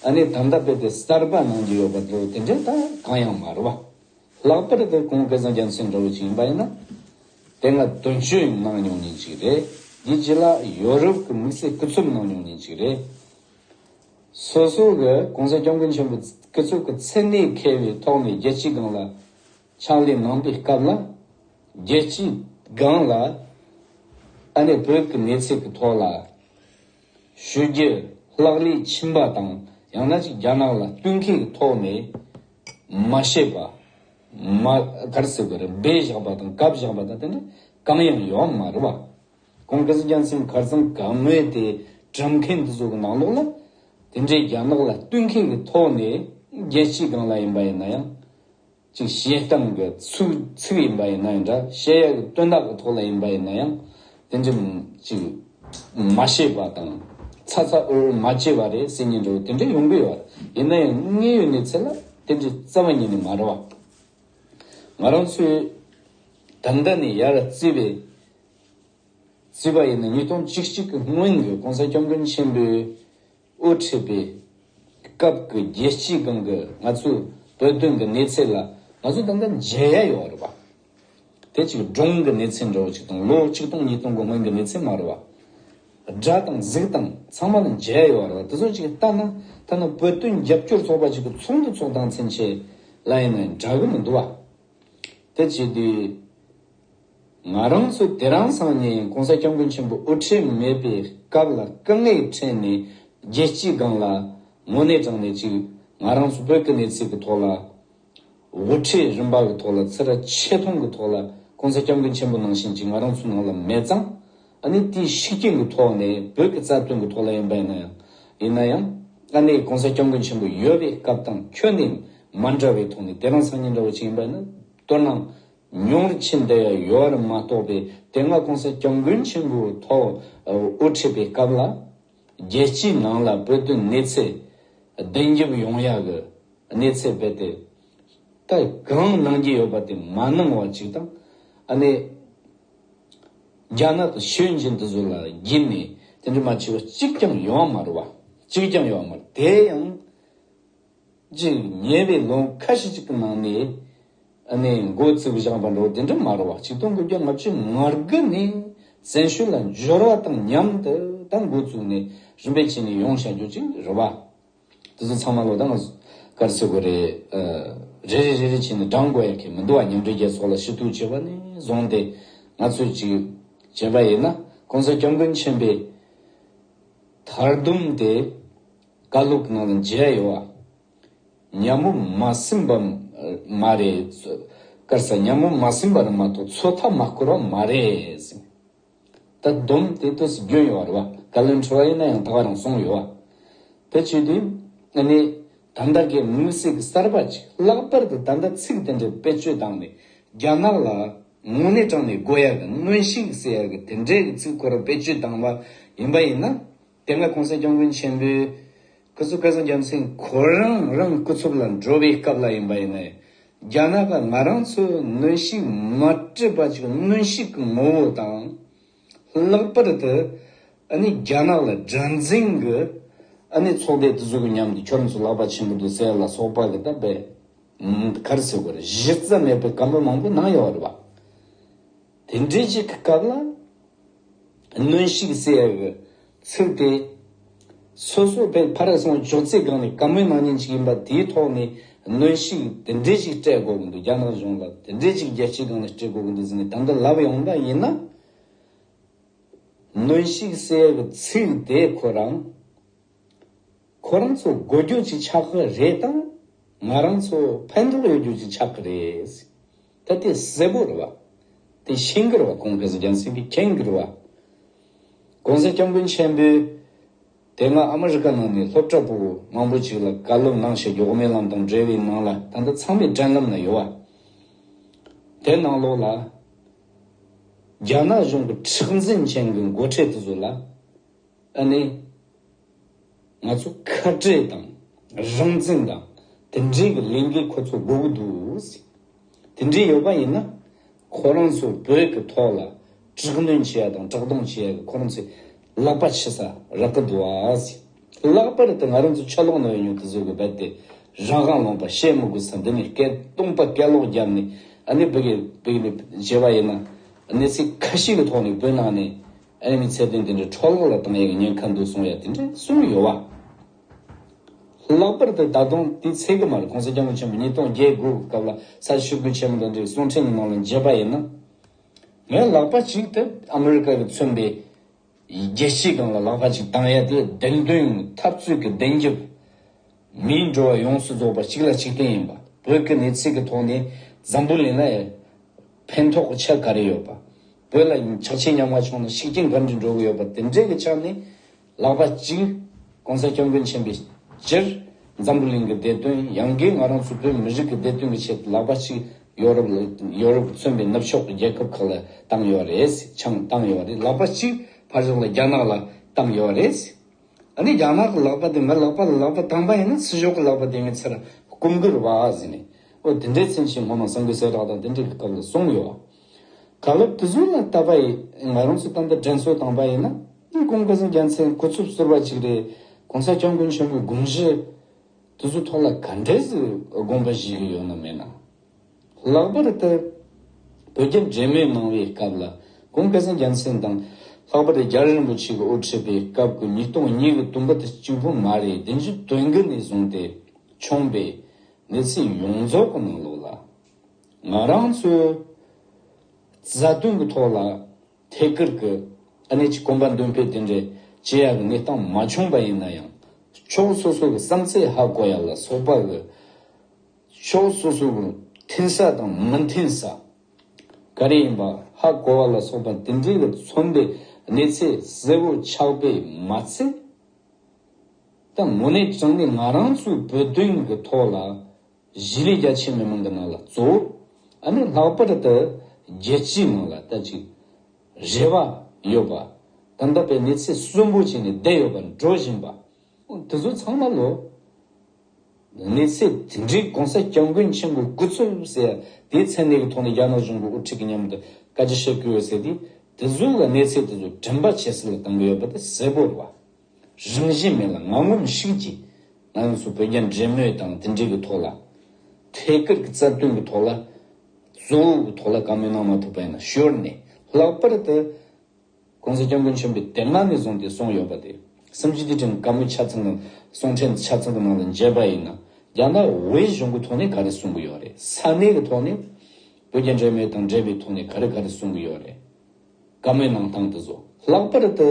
ཨ་ནེ་དམ་ད་པེ་དེ་གསར་པ་ནང་གི་ཡོད་པ་དེ་དེ་འདྲའི་ད་གང་ཡང་མ་རེད་བ། ལྷག་པར་དུ་ཁོང་སྐལ་བཟང་རྒྱ་མཚོའི་འདྲ་བོ་ཅིག་ཡིན་པ་ཡིན་ན། དེ་སྔ་དོན་གཅོད་གནང་མྱོང་མྱིན་ཅིག་རེད། དེ་རྗེས་ལ་ཡོ་རོབ་ཀྱི་དམིགས་བསལ་སྐུ་ཚབ་གནང་མྱོང་མྱིན་ཅིག་རེད། སོ་སོ་གི་གོང་ས་སྐྱབས་མགོན་ཆེན་པོ་སྐུ་གཙུག་གི་མཚན་གནས་མཁས་པའི་ཐོག་ནས་རྒྱལ་སྤྱིའི་སྒང་ལ་ཕྱག་ལས་གནང་པའི་སྐབས་ལ། རྒྱལ་སྤྱིའི་སྒང་ལ་ཨ་ནེ་བོད་ཀྱི་གནས་ཚད་ཀྱི་ཐོག་ལ་ཞུ་རྒྱུ་ལྷག་ལས་ཕྱིན་པ་དང་ཡང་ན་ཅིག་རྒྱ་ནག་ལ་བསྟུན་མཁས་ཀྱི་ཐོག་ནས་མ་བཤད་པ། མ་གར་སི་བེར་སྦས་བཞག་པ་དང་བཀའ་བཞག་པ་དང་དེ་འདྲ་གང་ཡང་ཡོད་མ་རེད་བ། ཀོང་ཀི་སི་རྒྱལ་མཚན་མཁར་རྩེན་ག་ངོས་དེ་གྲུབ་མཁན་འདི་ཚོ་གི་ནང་ལོགས་ལ། དེ་འདྲའི་རྒྱ་ནག་ལ་བསྟུན་མཁན་གྱི་ཐོག་ནས་རྒྱལ་སྤྱི་གང་ལ་ཡིན་པ་ཡིན་ན་ཡང། ཅིག་བཤད་སྟངས་གི་ཚུགས་ཚིག་ཡིན་པ་ཡིན་ན་ཡང་འདྲ་བཤད་ཡག་གི་སྟོན་དག་གི་ཐོག་ལ་ཡིན་པ་ཡིན་ན་ཡང། དེ་འདྲ་ཅིག་མ་བཤད་པ་དང། ཚ་ཚ་འུར་འུར་མ་བྱས་པ་རེད་སེམས་ཉིད་འགྲོ་དེ་འདྲ་ཡོང་གི་ཡོད་རེད་ཡིན་ན་ཡང་དངོས་ཡོད་གནས་ཚད་ལ་དེ་འདྲའི་རྩ་བ་ཉིད་ནས་མ་རེད་བ། ང་རང་ཚོའི་དམ་དྲག་ནས་ཡར་བརྩིས་པའི་བརྩིས་པ་ཡིན་ན་ཉིས་སྟོང་གཅིག་གཅིག་གི་སྔོན་གྱི ྋགོང་ས་སྐྱབས་མགོན་ཆེན་པོའི་དབུ་ཁྲིད་པའི་སྐབས་ཀྱི་རྒྱལ་སྤྱིའི་སྒང་གི་ང་ཚོའི་བོད་དོན་གྱི་གནས་ཚད་ལ་ང་ཚོ་ད་ལྟ་མཇལ་ཡ་ཡོད་རེད་པ། དེ་གཅིག་སྒྲུང་གི་གནས་ཚད་འདྲ་བོ་གཅིག་དང་ལོ་གཅིག་སྟོང་གཉིས་སྟོང་གི་སྔོན་གྱི་གནས་ཚད་མ་རེད་པ། སྒྲ་དང་གཟིགས་དང་ཚང་མ་ལ་མཇལ་ཡ་ཡོད་རེད་པ། དེ་ཚོ་གཅིག་ལྟ་ན་ཐ་ན་བོད་དོན་རྒྱབ་སྐྱོར་ཚོགས་པ་གཅིག་གི་ཚོགས་འདུ་ཚོགས་སྟངས་ཚུན་ཆད་ལ་ཡིན་ན་འདྲ་གི་མི་འདུག་བ། དེ་བྱས་དུས། ང་རང་ཚོ་དེ་རང་སང་ནས་གོང་ས་སྐྱབས་མགོན་ཆེན་པོ་དབུ་ཁྲིད་མེད་པའི་སྐབས་ལ་སྐུ་ངལ་ཕྲན་ནས་རྒྱལ་སྤྱིའི་སྒང་ལ་ངོ་གནས་དྲངས་ནས་ཅིག་ང་རང་ཚོ་བོད་ཀྱི་གནས་ཚིག་གི་ཐོག་ལ་དབུ་ཁྲིད་རིམ་པ་གི་ཐོག་ལ་ཚེ་ར་ཆེ་མཐོང་གི་ཐོག་ལ་གོང་ས་སྐྱབས་མགོན་ཆེན་པོ་ནང་བཞིན་ཅིག་ང་རང་ཚོ་ནང་ལ་མེད་ཙང་ཨ་ནི་དེའི་ཤི་རྐྱེན་གི་ཐོག་ནས་བོད་ཀྱི་རྩ་དོན་གི་ཐོག་ལ་ཡིན་པ་ཡིན་ན་ཡང་ཡིན་ན་ཡང་ཨ་ནི་གོང་ས་སྐྱབས་མགོན་ཆེན་པོ་ཡོད་པའི་སྐབས་དང་ཁྱོད་ནས་མ་འདྲ་བའི་ཐོག་ནས་དེ་རང་སང་ཉིན་འདྲ་བོ་ཅིག་ཡིན་པ་ཡིན་ན་དོར་སྣང། མྱོང་རིག་ཆེན་དེ་ཡོད་རེད་མ་གཏོགས་པའི་དེ་སྔ་གོང་ས་སྐྱབས་མགོན་ཆེན་པོའི་ཐོག་དབུ་ཁྲིད་པའི་སྐབས་ལ། རྒྱལ་སྤྱིའི་ནང་ལ་བོད་དོན་གནས་ཚད་བདེན་རྒྱབ་ཡོང་ཡག་གི་གནས་ཚད་རྦད་དེ། ད་གང་གནང་གྱི་ཡོད་པ་དེ་མ་གནང་བ་གཅིག་དང། ཨ་ནེ། རྒྱ་ནག་ཏུ་ཤོད་འཇིན་དུ་བཟོ་ལ་བགྱིད་ནས་དེ་འདྲ་མ་བྱས་པ་གཅིག་ཀྱང་ཡོང་བ་མ་རེད་བ། གཅིག་ཀྱང་ཡོང་བ་མ་རེད་དེ་ཡང། ཅིག་ཉེ་བའི་ལོ་ཁ་ཤས་ཅིག་གི་ནང་ནས་ནས་འགོ་བཙུགས་བཞག་པ་འགྲོ་དེ་འདྲ་མ་རུ་བ་ཆིག་སྟོང་དགུ་བརྒྱ་ལྔ་བཅུའི་མར་དགུ་ནས་བཙན་ཤུལ་ལ་འབྱོར་བ་དང་མཉམ་དུ་ད་འགོ་བཙུགས་ནས་རིམ་པས་ཕྱི་ནས་ཡོང་བྱ་རྒྱུ་ཅིག་རུ་བ། དེ་ཚོ་ཚང་མ་ལོ་ཟླ་ངར་ཚོད་དགོས་རེད། རེ་རེ་རེ་རེ་བྱས་ནས་བགྲང་དགོས་ཡག་གི་མི་འདུག་བ་མཉམ་འབྲེལ་རྒྱལ་ཚོགས་ལ་ཞུ་གཏུག་བྱས་པ་ནས་བཟུང་སྟེ་ང་ཚོས་ཅིག་བྱས་པ་ཡིན་ན ྋགོང་ས ྋསྐྱབས་མགོན་ཆེན་པོས་དར་བསྡུམས་ཏེ། བཀའ་སློབ་གནང་ལ་མཇལ་ཡོང་བ། ཉམས་མོ་མ་ཟིན་པ་མ་རེད། སྐར་ས་ཉམས་མོ་མ་ཟིན་པ་རེད་མ་གཏོགས་ཚོད་ཐག་མ་བསྐོར་བ་མ་རེད། ད་བསྡོམས་དེ་དུས་སུ་བསྒྱུར་ཡོང་བ་རེད་བ། བཀའ་བློན་ཁྲི་བ་ཡིན་ན་ཡང་ད་བར་རང་སོང་ཡོད་བ། དེ་བྱས་དུས་ཨ་ནི་ད་ལྟ་གི་དམིགས་བསལ་གྱི་གསར་པ་ཅིག་ལྷག་པར་དུ་ད་ལྟ་ཚིག་དེ་འདྲའི་བེད་སྤྱོད་བཏང་ནས་རྒྱ་ནག་ལ་དངོས་གནས་དྲང་ནས་དགོས་ཡག་གི་དངོས་གཞི་གི་ཟེར་ཡག་གི་དེ་འདྲའི་གི་ཚིག་ཁོ་རང་བེད་སྤྱོད་བཏང་བ་ཡིན་པ་ཡིན་ན། དེ་སྔ་གོང་ས་སྐྱབས་མགོན་ཆེན་པོའི་སྐུ་ཚོགས་སྐལ་བཟང་རྒྱལ་མཚན་ཁོ་རང་རང་སྐུ་ཚོགས་ལ་འགྲོ་བའི་སྐབས་ལ་ཡིན་པ་ཡིན་ན། རྒྱ་ནག་པ་ང་རང་ཚོའི་གནོན་ཤུགས་མ་སྤྲོད་པ་ཅིག་གནོན་ཤུགས་ཀྱི་ངོ་བོ་དང། ལྷག་པར་དུ་ཨ་ནི་རྒྱ་ནག་ལ་དགྲ་འཛིན་གྱི་ཨ་ནི་ཚོགས་སྡེ་དེ་ཚོ་གི་མཉམ་དུ་ཁྱོད་རང་ཚོ་ལག་པ་ཆེན་པོ་དུ་སེར་ལ་སོགས་པ་གི་ད་བེད་ཀར་ཟེར་བར་གཞི་རྩ་མེད་པའི་སྐམ་པོ་མང་པོ་གནང་ཡོད་རེད་བ། དེ་འདྲའི་ཞིག་གི་སྐབས་ལ། གནོན་ཤུགས་བསལ་བའི་ཚུལ་དེ། སོ་སོ་བའི་ཕར་སོང་ཅོག་ཙེའི་སྒང་ནས་ག་མོས་ནང་ཉིན་ཅིག་ཡིན་པ་དེའི་ཐོག་ནས་གནོན་ཤུགས་དེ་འདྲའི་ཞིག་སྤྲད་དགོས་ཀྱི་འདུག་རྒྱ་ནག་གཞུང་ལ་དེ་འདྲའི་ཞིག་རྒྱལ་སྤྱིའི་སྒང་ནས་སྤྲོད་དགོས་ཀྱི་འདུག་ཟེར་ནས་ད་ལྟ་ལབ་ཡོང་ན་ཡིན་ན། གནོན་ཤུགས་བསལ་བའི་ཚུལ་དེ་ཁོ་རང། ཁོ་རང་ཚོ་དགོས་རྒྱུ་ཅིག་ཆགས་ཀྱི་རེད་དམ། ང་རང་ཚོ་ཕན་ཐོགས་ཡོད་རྒྱུ་ཅིག་ཆགས་ཀྱི་རེད། ད་ལྟའི་གསལ་པོར་བ་དེ་ཤིང་སྒིར་བ་གོང་གི་རྒྱལ་མཚན་གྱི་ཁེངས་སྒིར་བ། གོང་གསལ་སྐྱབས་མགོན་ཆེན་པོས། དེ་སྔ་ཨ་མ་རི་ཀ་ནང་ནས་སློབ་གྲྭ་པོ་མང་པོ་ཅིག་ལ་བཀའ་སློབ་གནང་བཞིན་འཇོག་མའི་ལམ་དང་འབྲེལ་བའི་ནང་ལ་ད་ལྟ་ཚང་མས་དྲན་ལམ་ན་ཡོད་བ། དེ་ནང་ལོགས་ལ། རྒྱ་ནག་གཞུང་གི་མཁྲེགས་འཛིན་ཅན་གྱི་མགོ་ཁྲིད་དེ་ཚོ་ལ། ཨ་ནེ། ང་ཚོ་ཁ་བྲལ་དང་རང་བཙན་དང་དེ་འབྲེལ་གྱི་ལས་འགུལ་ཁོ་ཚོ་དགོས་ཀྱི་འདུག། དེ་འདྲས་ཡོད་པ་ཡིན་ན། ཁོ་རང་ཚོ་བོད་ཀྱི་ཐོག་ལ་དྲག་གནོན་བྱེད་ཡ་དང་དྲག་རྡུང་བྱེད་ཡ་གི་ཁོ་རང་ཚོས་ལག་པ་ཕྱེ་ས་རག་གི་འདུག་ཨ། ལྷག་པར་དུ་ང་རང་ཚོ་ཆ་ལོག་ནང་ཡོད་མྱོང་དུ་བཟོ་དགོས་པ་དེ་རང་དབང་ལོངས་པ་བཤད་མི་དགོས་ས་འདི་ནས་སྐད་སྟོང་པ་སྐད་ལོག་རྒྱབ་ནས་ཨ་ནེ་བོད་ཀྱི་བོད་ཀྱི་ནས་བྱེད་པ་ཡིན་ན། གནས་ཚུལ་ཁ་ཤས་ཀྱི་ཐོག་ནས་བོད་ནང་ནས་ཨེ་མི་ཚད་དོན་དེ་འདྲའི་འཕྲོ་བརླག་ལ་བཏང་ཡས་ཀྱི་ཉེན་ཁ་འདུག་གསུང་ཡས་དེ་འདྲས་གསུང་ཡོད་བ། ལྷག་པར་དུ་ད་དུང་དེའི་ཚེ་དགེ་མར་གོང་ས་སྐྱབས་མགོན་ཆེན་པོ་ཉིས་སྟོང་བརྒྱད་དགུ་གི་སྐབས་ལ་ས་ཆུ་སྒུལ་ཆེན་མོ་དང་འདྲའི་གསུང་འཕྲིན་ནང་ལ་མཇལ་པ་ཡིན་ན། ངས་ལག་པ་གཅིག་དེ་ཨ་མི་རི་ཀ་གི་མཚོན་པའི་རྒྱལ་སྤྱིའི་སྒང་ལ་ལག་པ་གཅིག་བཏང་ཡས་དེ་བདེན་དོན་ཡིན་ནི་འཐབ་རྩོད་ཀྱི་བདེན་རྒྱབ། མིའི་འགྲོ་བ་ཡོངས་སུ་རྫོགས་པ་གཅིག་ལ་གཅིག་བརྟེན་ཡིན་པ། བོད་ཀྱི་གནས་ཚིག་གི་ཐོག་ནས་འཛམ་བུ་གླིང་ལ་ཕན་ཐོག་གི་ཆ་ག་རེ་ཡོད་པ། བོད་ལ་ཆགས་ཆེ་ཉམས་དགའ་བྱུང་ན་ཤུགས་རྐྱེན་ག་འདྲས་འགྲོ་གི་ཡོད་པ་དེ་འདྲའི་གི་ཆ་ནས་ལག་པ་གཅིག ྋགོང་ས ྋསྐྱབས་མགོན་ཆེན་པོས་སྤྱིར་འཛམ་བུ་གླིང་གི་བདེ་དོན་ཡང་སྒོས་ང་རང་ཚོ་བོད་མི་རིགས་ཀྱི་བདེ་དོན་གི་ཆེད་དུ་ལག་པ་གཅིག་ཡོ་རོབ་ཡོ་རོབ་ཀྱི་མཚོན་པའི་ནུབ་ཕྱོགས་ཀྱི་རྒྱལ་ཁབ་ཁག་ལ་བཏང་ཡོད་རེད་ཆང་བཏང་ཡོད་རེད་ལག་པ་གཅིག་ཕར་ཞོག་ལ་རྒྱ་ནག་ལ་བཏང་ཡོད་རེད། ཨ་ནི་རྒྱ་ནག་གི་ལག་པ་དེ་མི་ལག་པ་ལ་ལག་པ་བཏང་པ་ཡིན་ན་ཚི་ཞོག་གི་ལག་པ་དེ་ངའི་ཚེ་ལ་སྐུམ་དགོས་ར་བ་ཟེར་ནས་ཨོ་དེ་འདྲའི་ཚེ་ནས་ཤིག་ངོ་མ་སང་གི་གསལ་བསྒྲགས་དང་དེ་འདྲའི་སྐབས་ལ་སོང་ཡོད་ཨ། ག་ལབ་དེ་ཚོ་ལ་ལྟ་པ་ཡིན་ང་རང་ཚོ་ད་ལྟ་དྲན་གསོ་བཏང་པ་ཡིན་ན་ནི་ཀུན་དགའ་སེང་རྒྱ་མཚན་ཁུ་ཚུབ་གསོལ་བ་ཅིག་རེད་གོང་ས་སྐྱབས་མགོན་ཆེན་པོའི་དགོངས་གཞི་དེ་ཚོ་ཐོག་ལ་ག་འདྲས་སུ་དགོངས་པ་བཞེས་གི་ཡོད་ན་མེད་ན། ལྷག་པར་དུ་བོད་རྒྱ་འབྲེལ་མོལ་གནང་བའི་སྐབས་ལ་གོང་དཀར་གཙང་རྒྱལ་མཚན་དང། ལྷག་པར་དུ་རྒྱ་རི་རིན་པོ་ཆེ་གི་དབུ་ཁྲིད་པའི་སྐབས་ཀྱི་ཉིས་སྟོང་གཉིས་ཀྱི་དུམ་བུ་དེ་གཅིག་པུ་མ་རེད་དེ་ཚོའི་དོན་དགུ་ནས་བཟུང་སྟེ་བྱུང་པའི་གནས་ཚུལ་ཡོངས་རྫོགས་ཀྱི་ནང་ལོགས་ལ། ང་རང་ཚོའི་རྩ་དོན་གྱི་ཐོག་ལ་ཐད་ཀར་གྱི་གནད་ཀྱི་གོམ་པ་མདུན་སྤོས་དེ་འདྲའི་ཇེ་ཡག་གི་གནས་སྟངས་མ་བྱུང་པ་ཡིན་ན་ཡང། ཕྱོགས་སོ་སོ་གྱི་བསམ་ཚད་ཧ་གོ་ཡག་ལ་སོགས་པ་གི། ཕྱོགས་སོ་སོ་རུ་འཐེན་ས་དང་མ་འཐེན་ས་ག་རེ་ཡིན་པ་ཧ་གོ་བ་ལ་སོགས་པ་དེ་འདྲའི་ལ་མཚོན་པའི་གནས་ཚད་གསལ་བོ་ཆགས་པས་མ་ཚད། ད་མོ་ནས་བྱང་ནས་ང་རང་ཚོའི་བོད་དོན་གྱི་ཐོག་ལ་གཞི་ལས་རྒྱ་ཆེ་མི་མང་གི་ནང་ལ་གཙོ་བོ་ཨ་ནི་ལྷག་པར་དུ་རྒྱལ་སྤྱིའི་ནང་ལ་ད་ཅིག་རེ་བ་ཡོད་པ་དང་འདྲ་བའི་གནས་ཚད་གསོན་པོ་བྱས་ནས་བསྡད་ཡོད་པ་འགྲོ་བཞིན་པ་འོ་དེ་ཚོ་ཚང་མ་ལོ། གནས་ཚད་དེ་འདྲའི་གོང་ས་སྐྱབས་མགོན་ཆེན་པོའི་སྐུ་ཚུལ་ཟེར་ཡ་དེའི་མཚན་གནས་ཀྱི་ཐོག་ནས་རྒྱ་ནག་གཞུང་གི་དབུ་ཁྲིད་ཀྱི་མཉམ་དུ་བཀའ་སྤྱི་བཤད་ཁུལ་ཡོད་ཟེར་དུས་དེ་ཚོའི་ལ་གནས་ཚད་དེ་ཚོ་དྲན་པ་བྱེད་སའི་ལ་གང་གི་ཡོད་པ་དེ་གསལ་པོ་རེད་བ། རིམ་བཞིན་མི་ལ་ངང་ངོམ་ཤིག་གྱིས་ང་ཚོ་བོད་རྒྱ་འབྲེལ་མོལ་དང་དེ་འབྲེལ་གྱི་ཐོག་ལ། ཐད་ཀར་གྱི་རྩ་དོན་གྱི་ཐོག་ལ། གཙོ་བོའི་ཐོག་ལ་བཀའ་མོལ་གནང་མ་ཐུབ་པ་ཡིན་ན་ཞོར་ནས་ལྷག་པར་དུ། ྋགོང་ས ྋསྐྱབས་མགོན་ཆེན་པོས་དེབ་ནང་ནས་བཟུང་སྟེ་གསུངས་ཡོད་པ་དེ་སུམ་ཅུ་སྡེ་ཁྲིམས་དཀར་མོ་ཆ་ཚང་དང་གསུང་ཕྲེང་ཆ་ཚང་གི་ནང་དུ་འཇལ་པ་ཡིན་ན་རྒྱ་ནག་བའི་གཞུང་གི་ཐོག་ནས་ག་རེ་གསུང་གི་ཡོད་རེད་ས་གནས་ཀྱི་ཐོག་ནས་བོད་རྒྱ་འབྲེལ་མོལ་དང་འབྲེལ་བའི་ཐོག་ནས་ག་རེ་ག་རེ་གསུང་གི་ཡོད་རེད་དཀར་མོའི་ནང་དང་དུ་བཟོ་ལྷག་པར་དུ་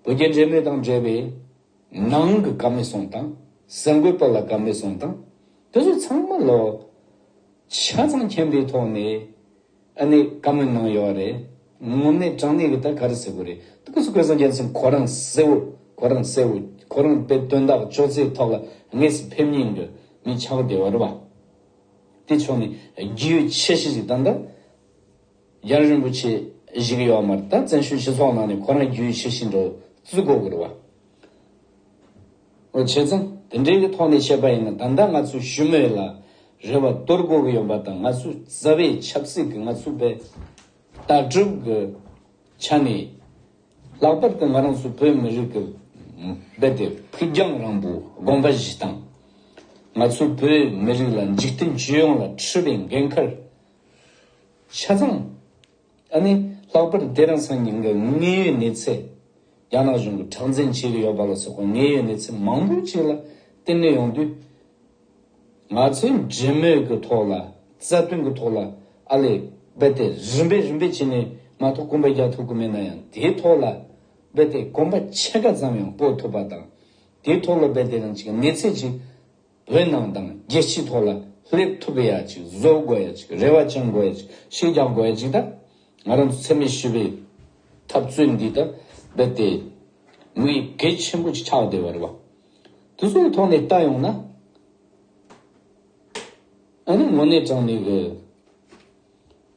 བོད་རྒྱ་འབྲེལ་མོལ་དང་འབྲེལ་བའི་ནང་གི་དཀར་མོའི་གསུང་དང་གསར་འགོད་པ་ལ་དཀར་མོའི་གསུང་དང་དུ་བཟོ་ཚང་མ་ལོ་ཆ་ཚང་མཁྱེན་པའི་ཐོག་ནས་ཨ་ནི་བཀའ་མོལ་གནང་ཡོད་རེད། ངོ་མས་དྲང་གནས་ཀྱི་ད་ག་རེ་ཟེར་དགོས་རེད་ད་གུས་སུ་གོས་སང་རྒྱལ་མཚན་ཁོ་རང་གསལ་བོ་ཁོ་རང་གསལ་བོ་ཁོ་རང་དཔེ་སྟོན་དག་ཅོག་ཙེའི་ཐོག་ལ་དངོས་སུ་ཕེབས་ཉེན་དགོས་མི་ཆགས་བདེ་བ་རེད་བ། དེ་ཕྱོགས་ནས་རྒྱུས་ཡོད་ཆེ་ཤེས་ཅིག་དང་ད་རྒྱ་རིན་པོ་ཆེ་གཞིག་ཡོད་མ་རེད་ད་བཙན་བྱོལ་སྤྱི་ཚོགས་ནང་ནས་ཁོ་རང་རྒྱུས་ཡོད་ཆེ་ཤེས་འགྲོ་བཙུགས་དགོས་གི་རེད་བ། ངོ་ཆེ་ཚང་དེ་འདྲའི་གི་ཐོག་ནས་བཤད་པ་ཡིན་ན་ད་ལྟ་ང་ཚོ་བཞུ་མེད་ལ་རེ་བ་སྟོར་དགོས་གི་ཡོད་པ་དང་ང་ཚོ་རྩ་བའི་ཆབ་སྲིད་གི་ང་ཚོ་པའི་ལྟག་གྲུབ་གི་ཆ་ནས་ལྷག་པར་དུ་ང་རང་ཚོ་བོད་མི་རིགས་གི་རྦད་དེ་ཕུགས་རྒྱང་རིང་པོ་དགོངས་པ་བཞི་དང། ང་ཚོ་བོད་མི་རིགས་ལ་འཇིག་རྟེན་སྤྱི་ཡོངས་ལ་འཁྲི་བའི་འགན་ཁུར་ཆ་ཚང། ད་ནི་ལྷག་པར་ཏེ་རང་སང་ཉིན་གྱི་དངོས་ཡོད་གནས་ཚད། རྒྱ་ནག་གཞུང་གིས་ཁྲག་འཛིང་བྱེད་ཀྱི་ཡོད་པ་ལ་སོགས་པའི་དངོས་ཡོད་གནས་ཚད་མང་པོའི་ཆེད་ལ་བསྟན་གནས་ཡོང་དུས། ང་ཚོས་འབྲེལ་མོལ་གྱི་ཐོག་ལ་རྩ་དོན་གྱི་ཐོག་ལ་ཨ་ལས་རྦད་དེ་རིམ་པས་རིམ་པས་བྱས་ནས་མ་ཐོག་སྐུམ་པ་རྒྱག་ཐུབ་ཀྱི་མེད་ན་ཡང་དེའི་ཐོག་ལ་རྦད་དེ་གོམ་པ་ཕྱེད་ཀ་ཙམ་ཡང་སྤོ་ཐུབ་པ་དང། དེའི་ཐོག་ལ་རྦད་དེ་རང་གཅིག་གི་གནས་ཚད་ཅིག་བོད་ནང་དང་རྒྱལ་སྤྱིའི་ཐོག་ལ་སླེབས་ཐུབ་ཡ་ཅིག་བཟོ་དགོས་ཡ་ཅིག་རེ་བ་བཅང་དགོས་ཡ་ཅིག་ཤིག་རྒྱག་དགོས་ཡ་ཅིག་ད་ང་རང་ཚོ་འཚེ་མེད་ཞི་བའི་འཐབ་རྩོད་འདི་ད་རྦད་དེ་མི་གལ་ཆེན་པོ་ཅིག་ཆགས་བསྡད་པ་རེད་བ། དེ་ཚོའི་ཐོག་ནས་བལྟ་ཡོང་ན། ཨ་ནི་དངོས་གནས་དྲང་ནས་གི།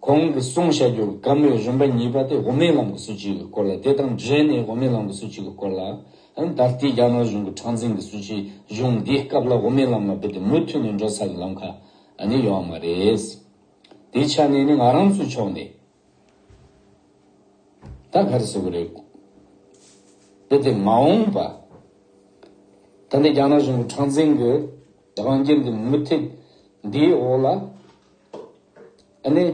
གོང་གི་གསུང་བཤད་རྒྱུད་དཀར་མོའི་རིམ་པ་གཉིས་པ་དེ་དབུ་མའི་ལམ་གྱི་སྲོལ་གཅིག་གི་སྐོར་ལ་དེ་དང་འབྲེལ་ནས་དབུ་མའི་ལམ་གྱི་སྲོལ་གཅིག་གི་སྐོར་ལ། ད་ལྟའི་རྒྱ་ནག་གཞུང་གི་འཁྲང་འཛིང་གི་སྲོལ་གཅིག་གཞུང་འདིའི་སྐབས་ལ་དབུ་མའི་ལམ་ལ་རྦད་དེ་མུ་མཐུད་ནས་འགྲོ་ས་ཀྱི་ལམ་ཁ་ནི་ཡོད་མ་རེད། དེའི་ཆ་ནས་ནི་ང་རང་ཚོའི་ཕྱོགས་ནས་ད་ག་རེ་བྱེད་དགོས་རེད། རྦད་དེ་མ་འོངས་པ་ད་ལྟའི་རྒྱ་ནག་གཞུང་གི་འཁྲང་འཛིང་གི་རང་རྒྱལ་འདི་མུ་མཐུད་འདིའི་འོག་ལ། ཨ་ནེ།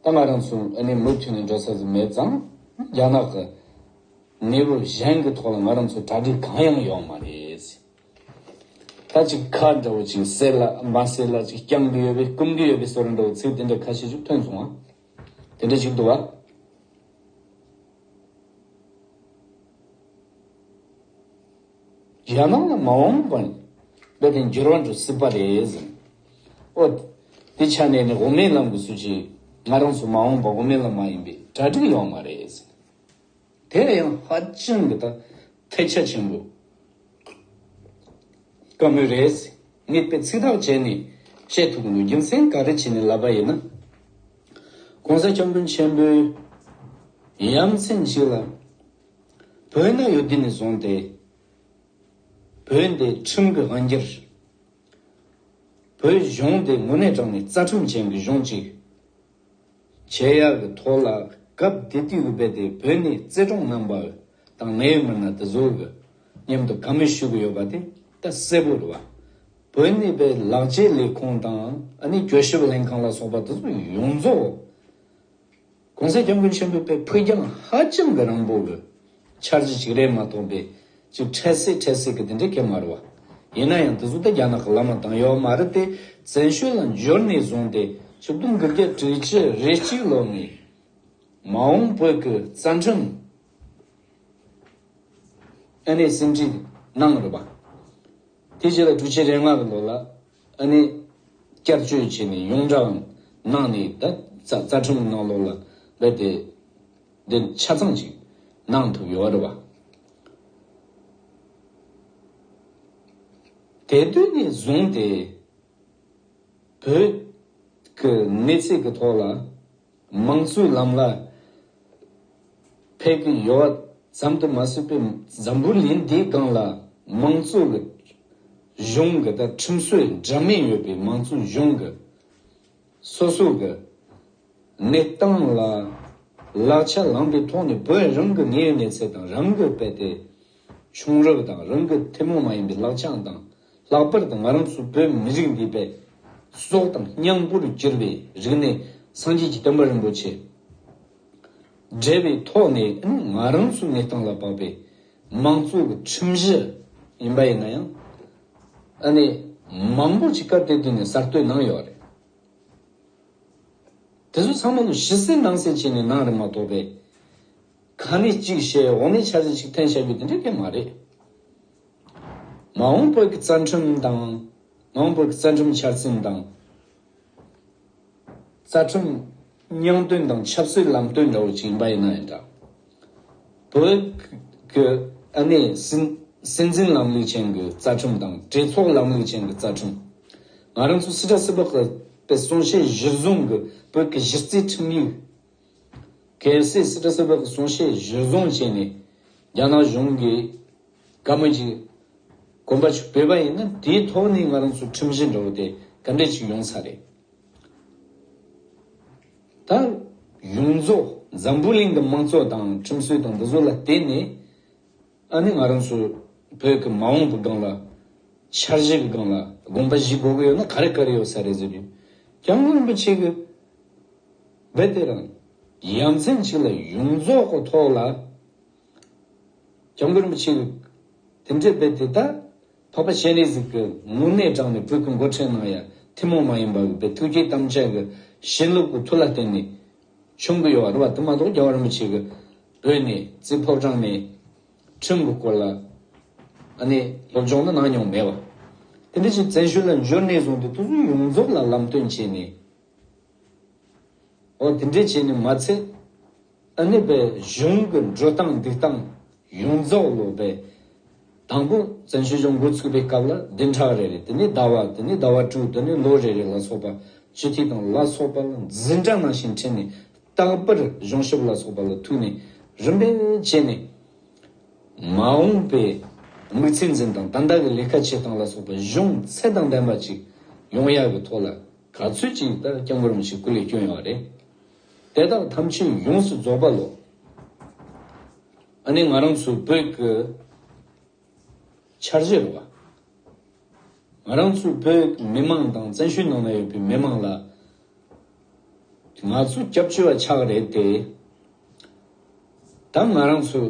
ད་ང་རང་ཚོ་ཨ་ནེ་མུ་མཐུད་ནས་འགྲོ་ས་ཟིག་མེད་ཙང། རྒྱ་ནག་གི་གནས་བབ་གཞན་གྱི་ཐོག་ལ་ང་རང་ཚོ་གྲ་སྒྲིག་གང་ཡང་ཡོང་མ་རེད། ད་ཅིག་ཁ་འདྲ་བོ་ཅིག་གསལ་ལ་མ་གསལ་ལ་ཅིག་རྐྱང་གི་ཡོད་པས་སྐུམ་གི་ཡོད་པས་ཟེར་འདྲ་བོ་ཚིག་དེ་འདྲ་ཁ་ཤས་ཤིག་ཐོན་སོང་ཨ། དེ་འདྲ་ཞིག་འདུག་ཨ། རྒྱལ་ནང་ལ་མ་འོངས་པ་ནི། དཔེ་དེ་འགྱུར་བ་འགྲོ་སྲིད་པ་རེད་ཟེར། ཨོ། དེ་ཆ་ནས་ནི་དབུ་མའི་ལམ་གྱི་སྲོལ་ཆེ། ང་རང་ཚོ་མ་འོངས་པ་དབུ་མའི་ལམ་མ་ཡིན་པའི་གྲ་སྒྲིག་ཡོང་བ་རེད་ཟེར། དེ་ལ་ཡང་ཧ་ཅང་གི་ཐ་ཐལ་ཆ་ཆེན་པོ་དཀའ་མོ་རེད་ཟེར། ངས་དཔེ་ཚིག་ཐག་བཅད་ནས་བཤད་ཐུབ་ཀྱི་འདུག་རྒྱུ་མཚན་ག་རེ་བྱས་ནས་ལབ་པ་ཡིན་ན། ྋགོང་ས ྋསྐྱབས་མགོན་ཆེན་པོའི་ཡ་མཚན་ཞིག་ལ། བོད་ན་ཡོད་དུས་ནས་བཟུང་སྟེ། བོད་འདི་ཁྲིམས་ཀྱི་དབང་སྒྱུར། བོད་གཞུང་འདི་དངོས་གནས་དྲང་ནས་རྩ་ཁྲིམས་ཅན་གྱི་གཞུང་ཅིག་བྱེད་ཡག་གི་ཐོག་ལ་སྐབས་དེ་དུས་ཀྱི་དཔེ་དེ་བོད་ནས་བརྩེ་གྲོང་རྣམ་པ་དང་ནད་ཡོད་མི་སྣ་དེ་ཚོར་གྱི་མཉམ་དུ་ག་མེད་ཞུ་གི་ཡོད་པ་དེ་ད་གསལ་པོ་རེད་བ། བོད་ནས་པའི་ལག་རྗེས་ལས་ཁུངས་དང་ཨ་ནི་གྱོད་ཞིབ་ལྷན་ཁང་ལ་སོགས་པ་དེ་ཚོ་ཡོངས་རྫོགས། གོང་གསལ་སྐྱབས་མགོན་ཆེན་པོའི་དཔེ་ཕུད་རྒྱང་ཧ་ཅང་གི་རང་བོ་གི། འཆར་གཞི་གཅིག་རེད་མ་གཏོགས་འདི་གཅིག་འཕྲལ་སེལ་འཕྲལ་སེལ་གི་དེ་འདྲའི་གེ་མ་རུ་བ། ཡིན་ན་ཡང་དེ་ཚོ་ད་རྒྱ་ནག་གི་བླ་མ་དང་ཡོག་མ་རི་དེ་བཙན་བྱོལ་ལ་འབྱོར་ནས་བཟུང་སྟེ་ཕྱི་སྟོང་དགུ་བརྒྱ་དྲུག་ཅུ་རེ་གཅིག་ལོ་ནས། མ་འོངས་བོད་ཀྱི་རྩ་ཁྲིམས། ཨ་ནེ་སེམས་ཁྲིད་གནང་རུ་བ། དེ་རྗེས་ལ་དྲུག་ཅུ་རེ་ལྔ་གི་ལོ་ལ། ཨ་ནེ། བསྐྱར་བཅོས་བྱས་ནས་ཡོངས་བསྒྲགས་གནང་ནས་ད་རྩ་ཁྲིམས་གནང་ལོག་ལ་སླེབས་ཏེ། འདི་ཆ་ཚང་ཅིག་གནང་ཐུབ་ཡོད་རེད་བ། དེ་དུས་ནས་བཟུང་སྟེ། བོད་ཀྱི་གནས་ཚད་ཀྱི་ཐོག་ལ། དམངས་གཙོའི་ལམ་ལ་ཕེབས་ཀྱི་ཡོད་པ་ཙམ་དུ་མ་ཟད་པའི་འཛམ་བུ་གླིང་འདིའི་སྒང་ལ་དམངས་གཙོ་ལ་གཞུང་གི་དང་ཁྲིམས་སྲོལ་འདྲ་མིན་ཡོད་པའི་མང་གཙོའི་གཞུང་གི་སོ་སོ་གི་གནས་སྟངས་ལ་ལག་ཆ་ལངས་པའི་ཐོག་ནས་བོད་རང་གི་དངོས་གནས་ཚད་དང་རང་གི་དཔེ་སྟེ་བྱུང་རབས་དང་རང་གི་ཐུན་མོང་མ་ཡིན་པའི་ལག་ཆའང་དང། ལྷག་པར་དུ་ང་རང་ཚོ་བོད་མི་རིགས་འདི་བས་སྲོག་དང་སྙིང་པོར་གྱུར་པའི་རིག་གནས་སངས་རྒྱས་ཀྱི་བསྟན་པ་རིན་པོ་ཆེ་འབྲེལ་བའི་ཐོག་ནས་ང་རང་ཚོའི་མི་སྟངས་ལ་བབ་པའི་མང་གཙོ་གི་ཁྲིམས་གཞི་ཡིན་པ་ཡིན་ན་ཡང་ཨ་ནེ་མང་པོ་ཞིག་སྐབས་དེ་དུས་ནས་གསར་གཏོད་གནང་ཡོད་རེད། དེ་ཚོ་ཚང་མ་ལོ་བཞི་སྲིད་ནང་སྲིད་བྱས་ནས་གནང་རེད་མ་གཏོགས་པས། ག་ནས་གཅིག་བཤད་འོག་ནས་ཆ་ཚད་ཅིག་འཐེན་བྱ་རྒྱུ་དེ་འདྲ་གལ་མ་རེད། མ་འོངས་བོད་ཀྱི་རྩ་ཁྲིམས་དང། མ་འོངས་བོད་ཀྱི་རྩ་ཁྲིམས་འཆར་ཟིན་དང། རྩ་ཁྲིམས་སྙིང་དོན་དང་ཆབ་སྲིད་ལམ་སྟོན་འདྲ་བོ་ཅིག་ཡིན་པ་ཡིན་ན་ཡང་འདྲ། བོད་ཀྱི་ཨ་ནེ་སྲིད་འཛིན་ལམ་ལུགས་ཅན་གྱི་རྩ་ཁྲིམས་དང་གྲོས་ཚོགས་ལམ་ལུགས་ཅན་གྱི་རྩ་ཁྲིམས། ང་རང་ཚོ་སི་ཏྲ་སི་པགས་པའི་གསུང་བཤད་གཞིར་བཟུང་གི་བོད་ཀྱི་གཞི་རྩའི་ཁྲིམས་ཡིག། གལ་སྲིད་སི་ཏྲ་སི་པཱ་གི་གསུང་བཤད་གཞིར་བཟུང་བྱས་ནས་རྒྱ་ནག་གཞུང་གིས་བཀའ་མོལ་གྱི་གོམ་པ་ཞིག་སྤོས་པ་ཡིན་ན་དེའི་ཐོག་ནས་ང་རང་ཚོའི་ཁྲིམས་གཞི་འདྲ་བོ་དེ་ག་འདྲས་ཆིག་ཡོང་ས་རེད། ད་ཡོངས་རྫོགས་འཛམ་བུ་གླིང་གི་དམངས་གཙོ་དང་ཁྲིམས་སྲོལ་དང་འདི་ཚོ་ལ་བརྟེན་ནས་ཨ་ནི་ང་རང་ཚོ་བོད་ཀྱི་མ་འོངས་པའི་སྒང་ལ་འཆར་གཞི་གི་སྒང་ལ་དགོངས་པ་བཞེས་དགོས་ཀྱི་ཡོད་ན་ག་རེ་ག་རེ་ཡོད་ས་རེད་ཟེར་དུས་རྒྱ་ནག་རིན་པོ་ཆེ་གི་བས་དེ་དང་ཡ་མཚན་ཞིག་ལ་ཡོངས་རྫོགས་གོ་ཐོག་ལ། སྐྱབས་མགོན་རིན་པོ་ཆེས་བོད་དེ་འདྲའི་བས་དེ་དག་འཕགས་པ་སྤྱན་རས་གཟིགས་ཀྱི་ངུར་སྣེ་དྲངས་ནས་བོད་ཀྱི་མགོ་ཁྲིད་གནང་ཡ་ཐུན་མོང་མ་ཡིན་པ་གི་བས་ཐུགས་རྗེའི་དམ་བཅའ་གི་བྱིན་རླབས་ཀྱི་ཐུགས་ལ་བརྟེན་ནས་བྱུང་གི་ཡོད་བ་དེ་མ་གཏོགས་རྒྱལ་བ་རིན་པོ་ཆེ་གི་བོད་ནས་རྩིས་ཕོབ་དྲངས་ནས་ཁྲིམས་ཀྱི་སྐོར་ལ་ཨ་ནེ་སློབ་སྦྱོང་ནི་གནང་མྱོང་མེད་བ། དེ་འདྲ་ཞིག་བཙན་བྱོལ་ལ་འབྱོར་ནས་བཟུང་སྟེ་ཐུགས་བསུན་ཡོངས་རྫོགས་ལ་ལམ་སྟོན་བྱས་ནས་འོ་དེ་འདྲས་བྱས་ནས་མ་ཚད། ཨ་ནེ་པའི་གཞུང་གི་འགྲོ་སྟངས་འདུག་སྟངས་ཡོངས་རྫོགས་ལོ་པའི། དང་པོ་བཙན་བྱོལ་སྦྱོང་འགོ་ཚུགས་པའི་སྐབས་ལ་བདུན་ཕྲག་རེ་རེ་དེ་ནས་ཟླ་བ་དེ་ནས་ཟླ་བ་དྲུག་དེ་ནས་ལོ་རེ་རེ་ལ་སོགས་པ་སྤྱི་འཐུས་དང་ལ་སོགས་པ་ལ་འཛིན་གྲྭ་ནང་བཞིན་ཁྲིད་ནས་རྟག་པར་གཞུང་ཞབས་ལ་སོགས་པ་ལ་ཐུག་ནས་རིམ་པས་བྱས་ནས། མ་འོངས་པའི་དམིགས་ཚད་འཛིན་སྟངས་དང་བདག་གི་ལས་ཀ་བྱེད་སྟངས་ལ་སོགས་པ་གཞུང་ཚད་དང་ལྡན་པ་ཅིག་ཡོང་ཡག་གི་ཐོག་ལ། ག་ཚོད་ཅིག་ཡིན་ལྟར་སྐྱབས་འགར་མི་ཞིག་སྐུ་ལས་བསྐྱོན་ཡོང་བ་རེད། དེ་དག་ཐམས་ཅད་ཡོངས་སུ་རྫོགས་པ་ལོ། ཨ་ནི་ང་རང་ཚོའི་བོད་ཀྱི་འཆར་གཞི་རེད་བ། ང་རང་ཚོའི་བོད་ཀྱི་མི་མང་དང་བཙན་བྱོལ་ནང་ན་ཡོད་པའི་མི་མང་ལ་ང་ཚོ་སྐྱབས་བཅོལ་བ་ཆགས་རེད་དེ། ད་ང་རང་ཚོའི་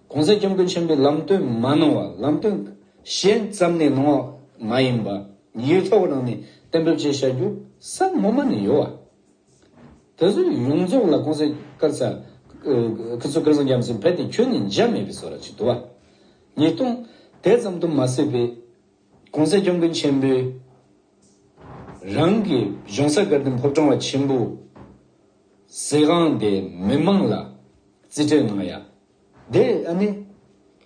གོང་ས་སྐྱབས་མགོན་ཆེན་པོས་ལམ་སྟོན་མ་གནང་བར་ལམ་སྟོན་གཞན་བརྩམས་ནས་གནང་བ་མ་ཡིན་པར་ཉིན་ཡོད་ཐོག་རང་ནས་གཏན་འབེབས་བཅས་བྱ་རྒྱུ་སམ་སྔོན་མ་ནས་ཡོད་པ་དེ་ཚོ་ཡོངས་རྫོགས་ལ་གོང་ས་སྐར་ཚ་ཁི་ཚོ་སྐལ་བཟང་རྒྱ་མཚོས་འཕེལ་ཏེ་ཁྱོན་ནས་འཇགས་མེད་པའི་བཟོ་ར་ཅིག་དུ་བ། ཉིས་སྟོང། དེ་ཙམ་དུ་མ་ཟད་པའི་གོང་ས་སྐྱབས་མགོན་ཆེན་པོས་རང་གི་གཞུང་ས་ཀར་དེ་ཕོབ་ཁྲོམ་བ་ཆེན་པོ་ཟེ་ཁང་དེ་མི་མང་ལ་རྩིས་སྤྲད་གནང་ཡ། དེ་ཨ་ནི།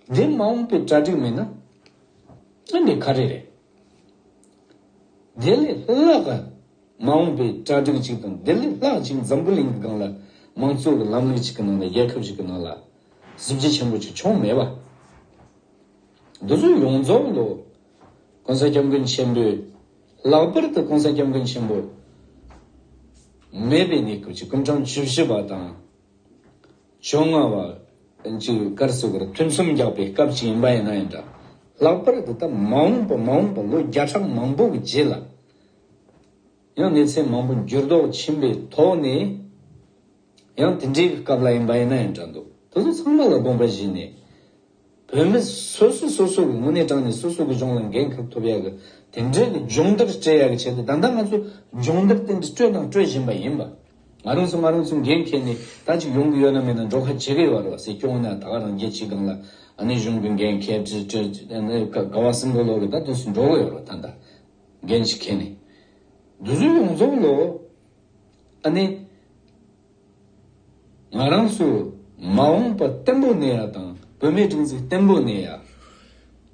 འདི་མ་འོངས་པའི་གྲ་སྒྲིག་མིན་ན། ཨ་ནི་ག་རེ་རེད། དེ་ལས་སླ་ག། མ་འོངས་པའི་གྲ་སྒྲིག་ཅིག་དང་དེ་ལས་ལྷག་ཅིག་འཛམ་བུ་གླིང་གི་སྒང་ལ། མང་གཙོ་གི་ལམ་ལུགས་ཅིག་གི་ནང་ལ་རྒྱལ་ཁབ་ཅིག་གི་ནང་ལ། གཟི་བརྗིད་ཆེན་པོ་ཅིག་བྱུང་མེད་པ། འདི་ཚོ་ཡོངས་རྫོགས་ལོ། ྋགོང་ས ྋསྐྱབས་མགོན་ཆེན་པོའི། ལག་པར་དུ ྋགོང་ས ྋསྐྱབས་མགོན་ཆེན་པོ། མེད་པའི་གནས་སྐབས་ཀྱི་ཀུན་བྱང་བཅུ་བཞི་པ་དང། བཅོ་ལྔ་བ། ཅེས་པའི་སྐར་ཚེས་བར་ཐུན་གསུམ་རྒྱག་པའི་སྐབས་ཅིག་ཡིན་པ་ཡིན་ན་ཡང་འདྲ། ལྷག་པར་དུ་ད་མ་འོངས་པ་མ་འོངས་པ་ལོ་བརྒྱ་ཕྲག་མང་པོ་གི་རྗེས་ལ་ཡང་གནས་ཚད་མང་པོ་འགྱུར་ལྡོག་ཕྱིན་པའི་ཐོག་ནས་ཡང་དེ་འདྲའི་སྐབས་ལ་ཡིན་པ་ཡིན་ན་ཡང་འདྲ་འདུག་དེ་ཚོ་ཚང་མ་ལ་དགོངས་པ་བཞེས་ནས། བོད་མི་སོ་སོས་སོ་སོ་གི་དངོས་གནས་དྲང་ནས་སོ་སོ་གི་གཞུང་ལ་འགན་ཁུར་ཐུབ་ཡག་གི་དེ་འདྲའི་གི་སྦྱོང་བརྡར་སྤྲད་ཡག་གི་བྱས་ཏེ་ད་ལྟ་ང་ཚོ་སྦྱོང་བརྡར་ཏན་ཏིག་སྤྲོད་དང་སྤྲོད་བཞིན་པ་ཡིན་པ། ང་རང་ཚོ་ང་རང་ཚོའི་འགན་འཁྱེར་ནས་ད་ཅིག་ཡོང་གི་ཡོད་ན་མེད་ན་འགྲོ་ཁ་ཇེ་རེ་བ་རེ་བ་སེ་སྐྱོང་ན་ད་ག་རང་རྒྱལ་སྤྱི་སྒང་ལ་ཨ་ནེ་གཞུང་གི་འགན་འཁྱེར་དྲི་སྤྲོད་ག་བ་སེམས་ཁོ་ལོ་རེ་ད་དུས་སུ་འགྲོ་གི་ཡོད་རོ་ད་ད་འགན་ཞིག་འཁྱེར་ནས་དུས་སུ་ཡོང་རྫོགས་ལོ། ཨ་ནི། ང་རང་ཚོས་མ་འོངས་པ་བརྟན་པོ་གནས་ཡ་དང་བོད་མིའི་སྒྲིག་འཛུགས་བརྟན་པོ་གནས་ཡ།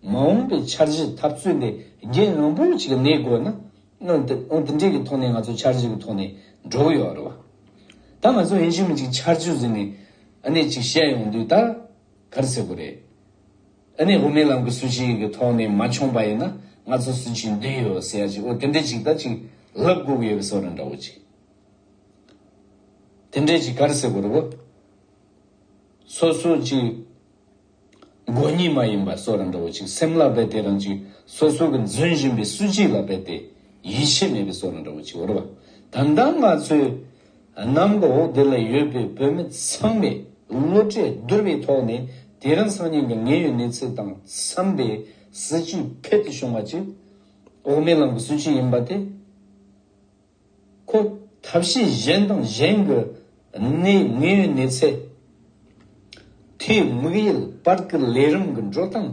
མ་འོངས་པའི་འཆར་གཞི་འཐབ་རྩོད་འདི་རྒྱལ་མང་པོ་ཞིག་གནས་དགོས་ན། ཨང་དེ་འདྲའི་གི་ཐོག་ནས་ང་ཚོ་འཆར་གཞི་གི་ཐོག་ནས་འགྲོ་ཡོད་རེད་བ། ད་ང་ཚོ་ཡིན་ཕྱིན་མི་གཅིག་འཆར་གཞི་བཟོས་ནས་ཨ་ནི་ཅིག་བཤད་ཡོང་དུས་ད་ག་རེ་བྱེད་དགོས་རེད། ཨ་ནེ་ཧུ་མེ་ལམ་གྱི་སུན་ཆིང་གི་ཐོག་ནས་མ་མཆོངས་པ་ཡིན་ན་ང་ཚོ་སུན་ཆིང་འདི་ཡོད་ཟེར་ཡ་ཅིག་ཨོ་དེ་འདྲས་ཅིག་ད་ཅིག་ལབ་དགོས་ཀྱི་ཡོད་པའི་སོགས་རང་འདྲ་བོ་ཅིག་དེ་འདྲས་ཅིག་གར་ཟེར་གོ་རེ་བོ། སོ་སོ་ཅིག་མགོ་གཉིས་མ་ཡིན་པ་སོགས་རང་འདྲ་བོ་ཅིག་སེམས་ལ་འབད་དེ་རང་ཅིག་སོ་སོ་གི་འཛུན་བཞིན་པའི་སུན་ཆིང་ལ་འབད་དེ་ཡིད་ཆེས་མེད་པའི་སོགས་རང་འདྲ་བོ་ཅིག་འོ་རེ་བ། ད་ལྟ་ང་ཚོས། གནམ་འོག་འདི་ལ་ཡོད་པའི་བོད་མི་ཚང་མས་བློ་གྲོས་བསྡུར་བའི་ཐོག་ནས་དེ་རིང་སང་ཉིན་གྱི་ངེས་ཡོད་གནས་ཚུལ་དང་འཚམས་པའི་སྲིད་བྱུས་འཕེལ་དུ་བྱུང་བ་གཅིག་འོག་མའི་ལམ་གྱི་སྲིད་བྱུས་ཡིན་པ་དེ་ཁོ་ཐབས་ཤེས་གཞན་དང་གཞན་གྱི་གནས་ངེས་ཡོད་གནས་ཚད་མཐོའི་དམིགས་ཡུལ་སྤར་སྐུལ་ལས་རིམ་གྱི་འགྲོ་སྟངས་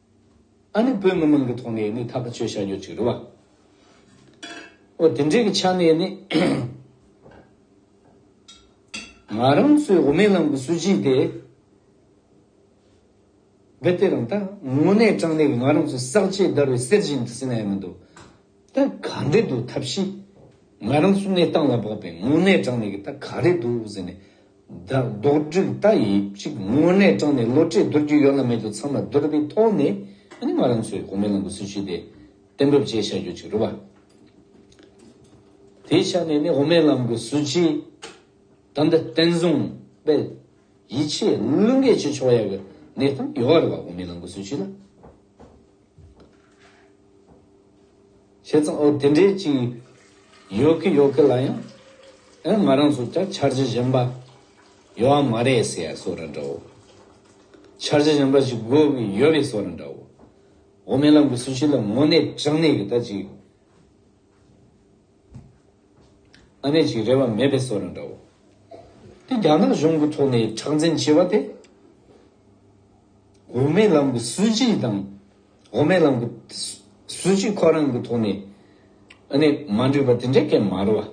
ཨ་ནི་བོད་མི་མང་གི་ཐོག་ནས་ནི་ཐག་གཅོད་བྱ་རྒྱུ་གཅིག་རེད་བ། འོ་དེ་འདྲའི་གི་ཆ་ནས་ནི། ང་རང་ཚོའི་འོ་མའི་ལམ་གི་སྲོལ་རྒྱུན་དེ། བེ་ཏེ་རང་ད་དངོས་གནས་དྲང་གནས་གི་ང་རང་ཚོའི་བསགས་རྗེས་བརྡར་བའི་གསེར་རྒྱུན་དེ་ཟེར་ན་ཡང་མི་འདུག། ད་ག་འདྲེ་འདུག་ཐབས་ཤེས། ང་རང་གསུང་ནས་སྟངས་ལ་བབས་པས་དངོས་གནས་དྲང་ནས་གི་ད་ག་རེ་འདུག་ཟེར་ནས། ད་རྡོག་སྒྲིག་ད་ཡིན་གཅིག་དངོས་གནས་དྲང་ནས་བློ་གྲོས་བསྡུར་རྒྱུ་ཡོད་ལ་མེད་དུ་ཚང་མ་བསྡུར་བའི་ཐོག་ནས་ཨ་ནི་ང་རང་ཚོའི་གོང་མའི་ལམ་གྱི་སྲིད་བྱུས་དེ་གཏན་འབེབས་བྱས་བཞག་རྒྱུ་གཅིག་རེད་བ། དེའི་ཆ་ནས་ནི་འོ་མའི་ལམ་གྱི་སྲིད་བྱུས་ད་འདི་བརྟན་བཟུང་སྤེལ་ཡིད་ཆེས་བླུན་རྒྱས་བྱེད་ཆོག་ཡག་གི་གནས་སྟངས་ཡོད་རེད་བ་འོ་མའི་ལམ་གྱི་སྲིད་བྱུས་ལ། བྱས་ཙང་འོ་དེ་འདྲའི་ཅིང་ཡོད་གི་ཡོད་གི་ལ་ཡང་ཨེ་ང་རང་ཚོ་ཅག་འཆར་གཞི་གཞན་པ་ཡོད་ཨ་མ་རེད་ཟེར་ཡ་སོ་ར་འདྲའོ། འཆར་གཞི་གཞན་པ་ཞིག་དགོས་གི་ཡོད་རེད་སོ་ར་འདྲའོ། འོ་མའི་ལམ་གི་སུ་ཞིག་ལ་དངོས་གནས་དྲང་གནས་ཀྱི་ད་ཅིག་ཨ་ནེ་ཅིག་རེད་བ་མེད་པས་སོ་ར་འདྲའོ། དེ་རྒྱ་ནག་གཞུང་གི་ཐོག་ནས་ཁྲག་འཛིན་བྱས་བ་དེ། འོ་མའི་ལམ་གི་སུ་ཞིག་དང། འོ་མའི་ལམ་གྱི་གཟུགས་གཅིག་ཁོ་རང་གི་ཐོག་ནས་ནི་མ་འདྲེས་པ་དེ་འདྲའི་སྐད་མ་རུ་བ།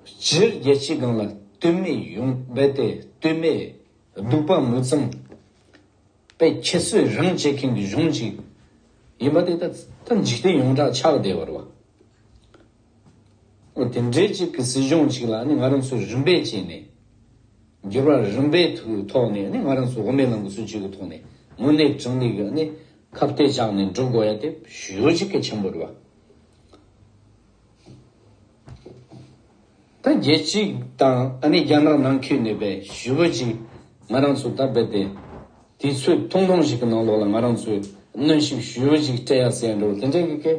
སྤྱིར་རྒྱལ་སྤྱིའི་སྒང་ལ་སྟོད་མའི་ཡོང་འབབ་དེ་སྟོད་མའི་སྡུག་པ་མུ་ཙམ་པས་ཁྱད་གསོད་རང་བྱེད་མཁན་གྱི་གཞུང་ཅིག་ཡིན་པ་དེ་ད་ལྟ་འཇིག་རྟེན་ཡོངས་གྲགས་ཆགས་བསྡད་པར་བ། དེ་འདྲའི་གཅིག་གི་སྲིད་གཞུང་གཅིག་ལ་ང་རང་ཚོས་རིམ་པས་བྱས་ནས། འགྱུར་བ་རིམ་པའི་ཐོག་ནས་ང་རང་ཚོ་དབུ་མའི་ལམ་གྱི་སྲིད་བྱུས་ཀྱི་ཐོག་ནས་དངོས་གནས་གྲངས་ལས་ཀྱི་ཁབ་གཏད་བཅག་ནས་འགྲོ་དགོས་ཡ་དེ་གཞོལ་གྱི་གལ་ཆེན་པོ་རེད་བ། ད་རྒྱལ་སྤྱི་དང་རྒྱ་ནག་ནང་ཁུལ་ནས་པའི་ཞུ་བོད་ཅིག་ང་རང་ཚོ་ད་རྦད་དེ་དུས་ཚོད་ཐུང་ཐུང་ཞིག་གི་ནང་ལོགས་ལ་ང་རང་ཚོས་གནོན་ཤུགས་ཞུ་བོད་ཅིག་སྤྲད་ཡ་ཟེར་ཡ་འགྲོ་དེ་འདྲའི་གི་གལ་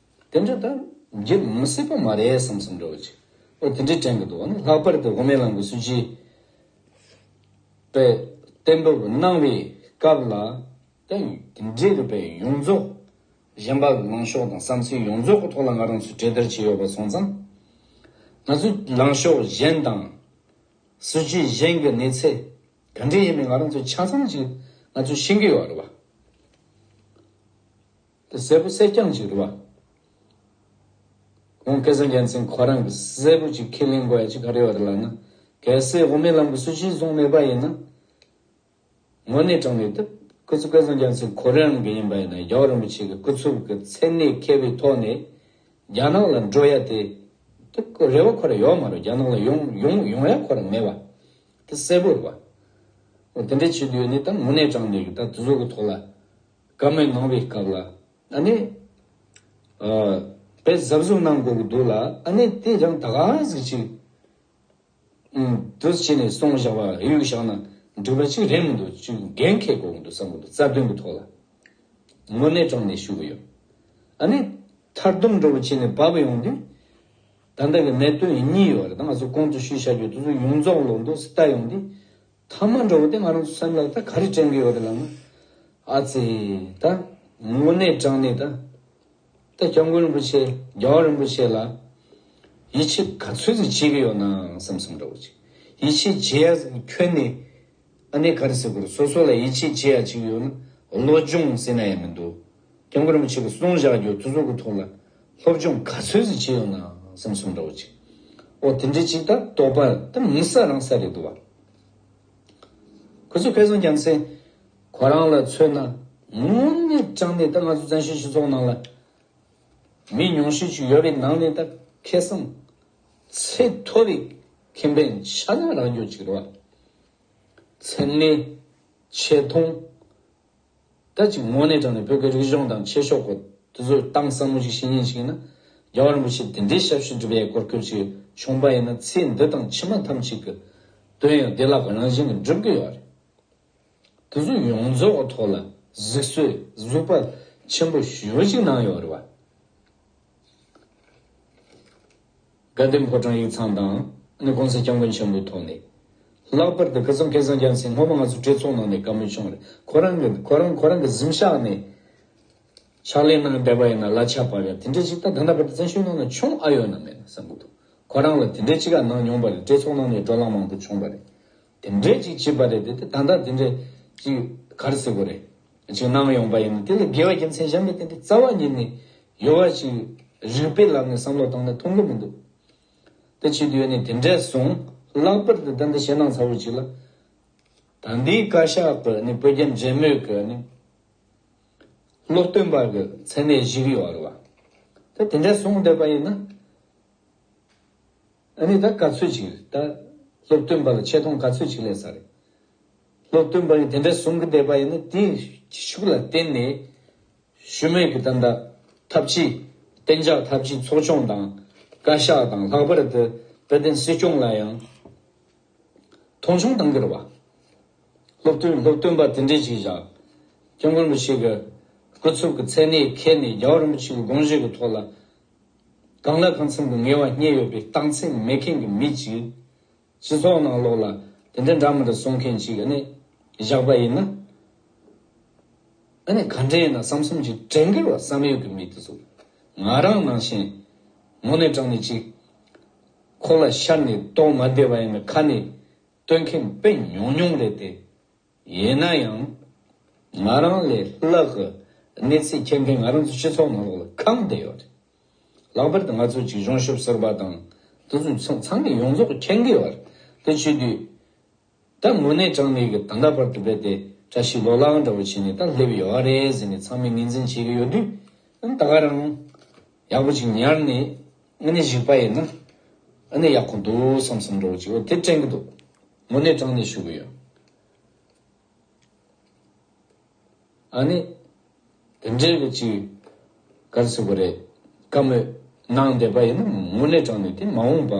དེ་འདྲ་དང་འགྱུར་མི་སྲིད་པ་མ་རེད་བསམ་བསམ་འདྲ་བོ་ཅིག་ཨོ་དེ་འདྲའི་དྲན་གི་འདུག་ཨ་ནི་ལྷག་པར་དུ་དབུ་མའི་ལམ་གྱི་སྲོལ་རྒྱུན་པས་གཏན་འབེབས་གནང་བའི་སྐབས་ལ་དང་དེ་འབྲེལ་གྱི་པའི་ཡོངས་རྫོགས་གཞན་པ་ལངས་ཕྱོགས་དང་བསམ་ཚུལ་ཡོངས་རྫོགས་ཀྱི་ཐོག་ལ་ང་རང་ཚོས་གྲོས་བསྡུར་བྱས་ཡོད་པ་སོང་ཙང། ང་ཚོའི་ལངས་ཕྱོགས་གཞན་དང། སྲོལ་རྒྱུན་གཞན་གྱི་གནས་ཚད་ག་འདྲས་ཡིན་མིན་ང་རང་ཚོས་ཆ་ཚང་ཞིག་ང་ཚོས་ཤེས་ཀྱི་ཡོད་རེད་བ། དེ་གསལ་པོ་གསལ་རྐྱང་ཅིག་རེད་བ། ཁོང་སྐལ་བཟང་རྒྱལ་མཚན་ཁོ་རང་གི་གསལ་པོ་ཅིག་ཁས་ལེན་དགོས་ཡ་ཅི་ག་རེད་བ་དེ་ལགས་ན་གལ་སྲིད་དབུ་མའི་ལམ་གི་སྲོལ་གཞིར་བཟུང་མེད་པ་ཡིན་ན། དངོས་གནས་དྲང་མེད་དེ་སྐུ་ཚེ་སྐལ་བཟང་རྒྱལ་མཚན་ཁོ་རང་གི་ཡིན་པ་ཡིན་ན་རྒྱ་བོད་རིན་པོ་ཆེ་གི་སྐུ་ཚུལ་གི་མཚན་གནས་མཁས་པའི་ཐོག་ནས་རྒྱ་ནག་ལ་འགྲོ་ཡ་དེ་རེད་བ་ཁོ་རང་ཡོག་མ་རེད་རྒྱ་ནག་ལ་ཡོང་ཡོང་ཡོང་ཡ་ཁོ་རང་མེད་བ་དེ་གསལ་པོ་རེད་བ། དེ་འདྲ་བྱེད་དུས་ཡོད་ནི་ད་དངོས་གནས་དྲང་མེད་གི་ད་དེ་ཚོ་གི་ཐོག་ལ། སྐར་མའི་ངང་བའི་སྐབས་ལ། ཨ་ནི། པས་གཟབ་གཟུབ་གནང་དགོས་ཀྱི་འདུག་ལ་ཨ་ནི་དེས་ཀྱང་ད་ག་ཟིག་ཅིག། དུས་ཕྱིས་ནས་སོང་བཞག་པ་ཨེ་ཡོད་བཞག་ན་འགྲིག་པ་ཅིག་རེད་མི་འདུག་ཅུས་ཀྱི་འགན་འཁེལ་དགོས་ཀྱི་འདུག་བསམ་གྱི་འདུག་རྩ་དོན་གྱི་ཐོག་ལ་དངོས་གནས་དྲང་གནས་ཞུ་གྱི་ཡོད། ཨ་ནི། མཐར་སྡོམ་འགྲོ་བོ་བྱས་ནས་བབས་པ་ཡོང་དུས། ད་ལྟ་གི་གནད་དོན་གཉིས་ཡོད་རེད་ད་ང་ཚོ་ཁོང་ཚོ་ཞུས་བྱ་རྒྱུ་དེ་ཚོ་ཡོངས་རྫོགས་ལོག་འདུག་སི་ཏཱ་ཡོང་དུས། ཐ་མ་འགྲོ་བ་དེ་ང་རང་ཚོ་སེམས་ལ་ད་ག་རེ་དྲན་གི་ཡོད་རེད་ལབ་ན། ཨ་ཙི། ད་དངོས་གནས་དྲང་ནས་ད། ད་སྐྱབས་མགོན་རིན་པོ་ཆེ་རྒྱལ་བ་རིན་པོ་ཆེ་ལ། ཡིད་ཆེས་ག་ཚོད་ཟིག་བྱེད་ཀྱི་ཡོད་ནའང་བསམ་བསམ་འདྲ་བོ་བྱེད། ཡིད་ཆེས་བྱེད་ཡ་ཟིག་ཁྱོན་ནས། ཨ་ནེ་ག་རེ་ཟེར་དགོས་རེད་སོ་སོ་ལ་ཡིད་ཆེས་བྱེད་ཡ་བྱེད་ཀྱི་ཡོད་ན་བློ་སྦྱོང་ཟེར་ན་ཡང་མི་འདུག། དེང་གི་རིན་པོ་ཆེ་གི་གསུང་བཞག་རྒྱུ་དེ་ཚོ་གི་ཐོག་ལ་སློབ་སྦྱོང་ག་ཚོད་ཟིག་བྱེད་ཡོང་ནའང་སེམས་སུ་འདྲ་བོ་ཅིག་ཨོ་དེ་འདྲའི་ཅིག་ལྟར་དོགས་པ་དེ་མི་ཟ་རང་ཟ་རེད་འདུག་བ། ཁོ་ཚོས་ཕེ་ཚོང་ཀྱང་སེ། ཁོ་རང་ལ་མཚོན་ན་ངོ་ནི་སྤྲང་ནི་ད་ང་ཚོ་བཙན་བྱོལ་སྤྱི་ཚོགས་ནང་ལ་མི་ཉུང་ཤས་ཅིག་ཡོད་པའི་ནང་ནས་ད་ཁེ་བཟང་ཚད་མཐོ་བའི་ཁེ་ཕན་ཆ་ཚང་རག་འཇོག་ཅིག་རེད་བ། ཚེ་ལས། ཆེ་མཐོང། སྐད་ཅིག་དངོས་གནས་དྲངས་ནས་བོད་ཀྱི་རིག་གཞུང་དང་ཆོས་ཕྱོགས་ཀྱི་དུས་ཚོད་གཏམ་ཟབ་མོ་ཞིག་བཤད་ཉེན་ཞིག་ཡིན་ན། རྒྱལ་བ་རིན་པོ་ཆེས་དེ་འདྲའི་ཞབས་ཞུ་བསྒྲུབས་ཡས་སྐོར་སྐྱོད་ཅིག་བྱུང་པ་ཡིན་ན་ཚེ་འདི་དང་ཕྱི་མ་ཐམས་ཅད་ཀྱི་དོན་ཡང་བདེ་བླག་རང་བཞིན་གྱིས་འགྲུབ་གི་ཡོད་རེད། དུས་ཚོད་ཡོངས་རྫོགས་ཀྱི་ཐོག་ལ་གཟིགས་གསོལ་གཟིགས་པ་ཆེན་པོ་ཞུས་ཅིག་གནང་ཡོད་རེད་བ། དགའ་ལྡན་ཕོ་བྲང་ཡིག་ཚང་དང། ནི་གོང་ས་སྐྱབས་མགོན་ཆེན་པོའི་ཐོག་ནས། ལྷག་པར་དུ་ཁི་སང་ཁེ་སང་ཀྱང་སིང་སྔོན་མ་ང་ཚོ་གྲོས་ཚོགས་ནང་ནས་དགའ་མོས་བྱུང་རེད་ཁོ་རང་གི་ཁོ་རང་ཁོ་རང་གི་གཟིམ་ཤག་ནས། ཕྱག་ལས་གནང་བསྡད་པ་ཡིན་ན་ལ་ཆགས་པ་རེད་དེ་འདྲའི་ཅིག་ད་ད་ནང་པ་དེ་བཙན་བྱོལ་ནང་ན་བྱུང་ཨ་ཡོད་ན་མེད་ན་བསམ་གི་འདུག་ཁོ་རང་ལ་དེ་འདྲའི་ཅིག་ག་གནང་མྱོང་པ་རེད་གྲོས་ཚོགས་ནང་ནས་འགྲོ་ལམ་མང་པོ་བྱུང་པ་རེད་དེ་འདྲས་ཅིག་བྱེད་པ་རེད་དེ་དེ་ད་ལྟ་དེ་འདྲས་ཅིག་གར་སྲིད་པོ་རེད་ཅིག་གནང་ཡོང་པ་ཡིན་ན་དེ་ལ་དགེ་བའི་རྒྱུ་མཚན་གཞན་པ་དེ་འདྲས་རྩ་བ་ཉིད་ནས་ཡོད་པ་ཅིག་རིགས་པའི་ལམ་ནས་བསམ་བློ་བཏང་ན་མཐོང་གི་མི་འདུག་དེ་བྱེད་དུས་ནས་དེ་འདྲས་བཟུང་ལྷག་པར་དུ་ད་ལྟ་ཞེད་སྣང་ཚ་བོ་ཅིག་ལ་ད་འདིའི་བཀའ་ཤག་གི་ནས་བོད་རྒྱ་འབྲེལ་མོལ་གི་ནས་སློབ་སྟོན་པ་གི་མཚན་གནས་བཞིག་ཡོད་རེད་བ་དེ་དེ་འདྲས་བཟུང་བསྡད་པ་ཡིན་ན། ཨ་ནི་ད་ག་ཚོད་ཅིག་རེད་ད། སློབ་སྟོན་པ་ལ་ཆེ་མཐོང་ག་ཚོད་ཅིག་ལས་ས་རེད། སློབ་སྟོན་པ་ཡིས་དེ་འདྲ་གསུང་གི་བསྡད་པ་ཡིན་ན་དེའི་གཞི་ཤུགས་ལ་བརྟེན་ནས། ཞུམ་མེད་ཀྱི་ད་ལྟ་ཐབས་ཇུས། གཏན་འཇགས་ཐབས་ཇུས་ཚོགས་ཆུང་དང། བཀའ་ཤག་དང་ལྷག་པར་དུ་བོད་བསྟན་སྲིད་སྐྱོང་ལ་ཡང། མཐོང་ཆུང་གཏང་གི་རེད་བ། སློབ་སྟོན་སློབ་སྟོན་པ་དེ་འདྲས་ཅིག་བཞག། སྐྱབས་མགོན་པོ་ཞིག་གི་སྐུ་ཚབ་ཀྱི་མཚན་གནས་ཁེལ་ནས་རྒྱལ་བ་རིན་པོ་ཆེ་ཀྱི་དགོངས་བཞེད་ཀྱི་ཐོག་ལ། གང་ལ་གང་འཚམ་གྱི་ངལ་བ་རྙེད་ཡོད་པའི་རྟགས་མཚན་མེད་མཁན་གྱི་མི་གཅིག། སྤྱི་ཚོགས་ནང་ལོགས་ལ་དེ་འདྲ་འདྲ་མི་འདྲ་གསུང་མཁན་གཅིག་གནས་བཞག་པ་ཡིན་ན། ཨ་ནི་ག་འདྲ་ཡིན་ན་བསམ་བསམ་གྱིས་དྲན་གྱི་རོགས་བསམ་ཡོད་ཀྱི་མི་དེ་ཚོ་ང་རང་ནང་བཞིན་ངོ་ནས་དྲང་ནས་ཅིག། ཁོག་ལ་ཤར་ནས་དོགས་མ་བསྡད་པ་ཡིན་ན་ཁ་ནས་བཏོན་མཁན་དཔེ་ཉུང་ཉུང་རེད་དེ། ཡིན་ན་ཡང། ང་རང་ལས་སླ་གི་གནས་ཚུལ་ཁྱད་མཁས་ང་རང་ཚོའི་སྤྱི་ཚོགས་ནང་ལོགས་ལ་གང་བསྡད་ཡོད་རེད། ལྷག་པར་དུ་ང་ཚོ་གཅིག་གཞུང་ཞབས་ཟུར་པ་དང་དུ་ཚོགས་ཚང་གིས་ཡོངས་རྫོགས་མཁྱེན་གྱི་ཡོད་རེད། དེ་བྱེད་དུས། ད་དངོས་གནས་དྲང་གནས་ཀྱི་ད་ལྟ་བར་དུ་བལ་དེ་འདྲ་ཞིག་ལོག་ལངས་འདྲ་བོ་བྱས་ནས་ད་སླེབས་ཡོད་རེད་ཟེར་ནས་ཚང་མས་ངེས་འཛིན་བྱེད་ཀྱི་ཡོད་དུས། ད་ང་རང། ཡག་པོ་ཅིག་ཉར་ནས་ཨ་ནི་གཞིགས་པ་ཡིན་ན། ཨ་ནི་ཡག་གི་འདུག་བསམ་བསམ་འདྲ་བོ་ཅིག་འོ་དེ་དྲན་གྱི་འདུག། དངོས་གནས་དྲང་ནས་ཞུ་གི་ཡོད། ཨ་ནི། དེ་འདྲའི་རིགས་ཅིག་ག་རེ་ཟེར་དགོས་རེད་དཀའ་མོད། ནང་བསྡད་པ་ཡིན་ན་དངོས་གནས་དྲང་ནས་དེ་མ་འོངས་པ།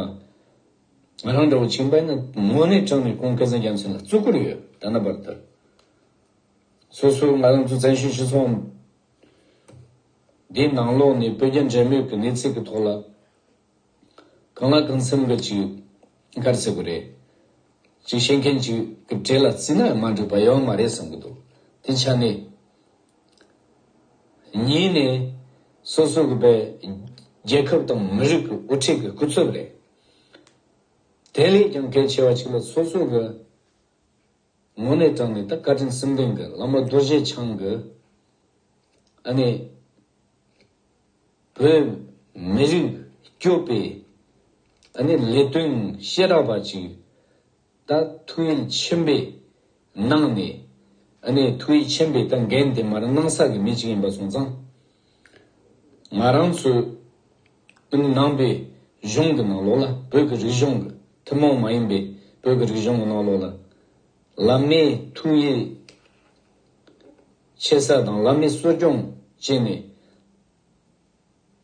ང་རང་འདྲ་བོ་བྱིངས་པ་ཡིན་ན་དངོས་གནས་དྲང་ནས་ཁོང་སྐལ་བཟང་རྒྱལ་མཚན་ལ་བརྩི་བཀུར་ཡོད་ད་ན་པར་དེར། སོ་སོ་ང་རང་ཚོ་བཙན་བྱོལ་སྤྱི་ཚོགས་འདིའི་ནང་ལོགས་ནས་བོད་རྒྱ་འབྲེལ་མོལ་གྱི་གནས་ཚད་ཀྱི་ཐོག་ལ། གང་ལ་གང་འཚམ་རེད་ཅེས་འགར་བརྩི་གི་རེད། ཅེས་བཤད་མཁན་གྱི་གི་གྲས་ལ་བརྩིས་ན་མ་འགྲིག་པ་ཡང་མ་རེད་བསམ་གི་འདུག་དེ་ཆ་ནས། གཉིས་ནས། སོ་སོ་གི་བས་རྒྱལ་ཁབ་དང་མི་རིགས་ཀྱི་དབུ་ཁྲིད་ཀྱི་སྐུ་ཚབ་རེད། དེ་ལས་ཀྱང་གལ་ཆེ་བ་གཅིག་ལ་སོ་སོ་གི། ངོ་ནས་དྲངས་ནས་ད་བཀའ་དྲིན་སེམས་ལྡན་གྱི་བླ་མ་རྡོ་རྗེ་འཆང་གི་ཨ་ནེ། བོད་མི་རིགས་སྐྱོབ་པའི་ཨ་ནེ་ལས་དོན་ཤེས་རབ་པ་ཅིག་ད་ཐུགས་ཡིད་ཆེན་པོས་གནང་ནས་ཨ་ནེ་ཐུགས་ཡིད་ཆེན་པོས་ད་འགན་དེ་མར་གནང་ས་གི་མི་ཅིག་ཡིན་པ་སོང་ཙང་ང་རང་ཚོའི་ཨིན་ཡུལ་ནང་པའི་གཞུང་གི་ནང་ལོགས་ལ་བོད་ཀྱི་རིག་གཞུང་གི་ཐུན་མོང་མ་ཡིན་པའི་བོད་ཀྱི་རིག་གཞུང་གི་ནང་ལོགས་ལ་བླ་མའི་ཐུགས་ཡིད་ཆེས་ས་དང་བླ་མའི་གསོ་སྐྱོང་བྱས་ནས་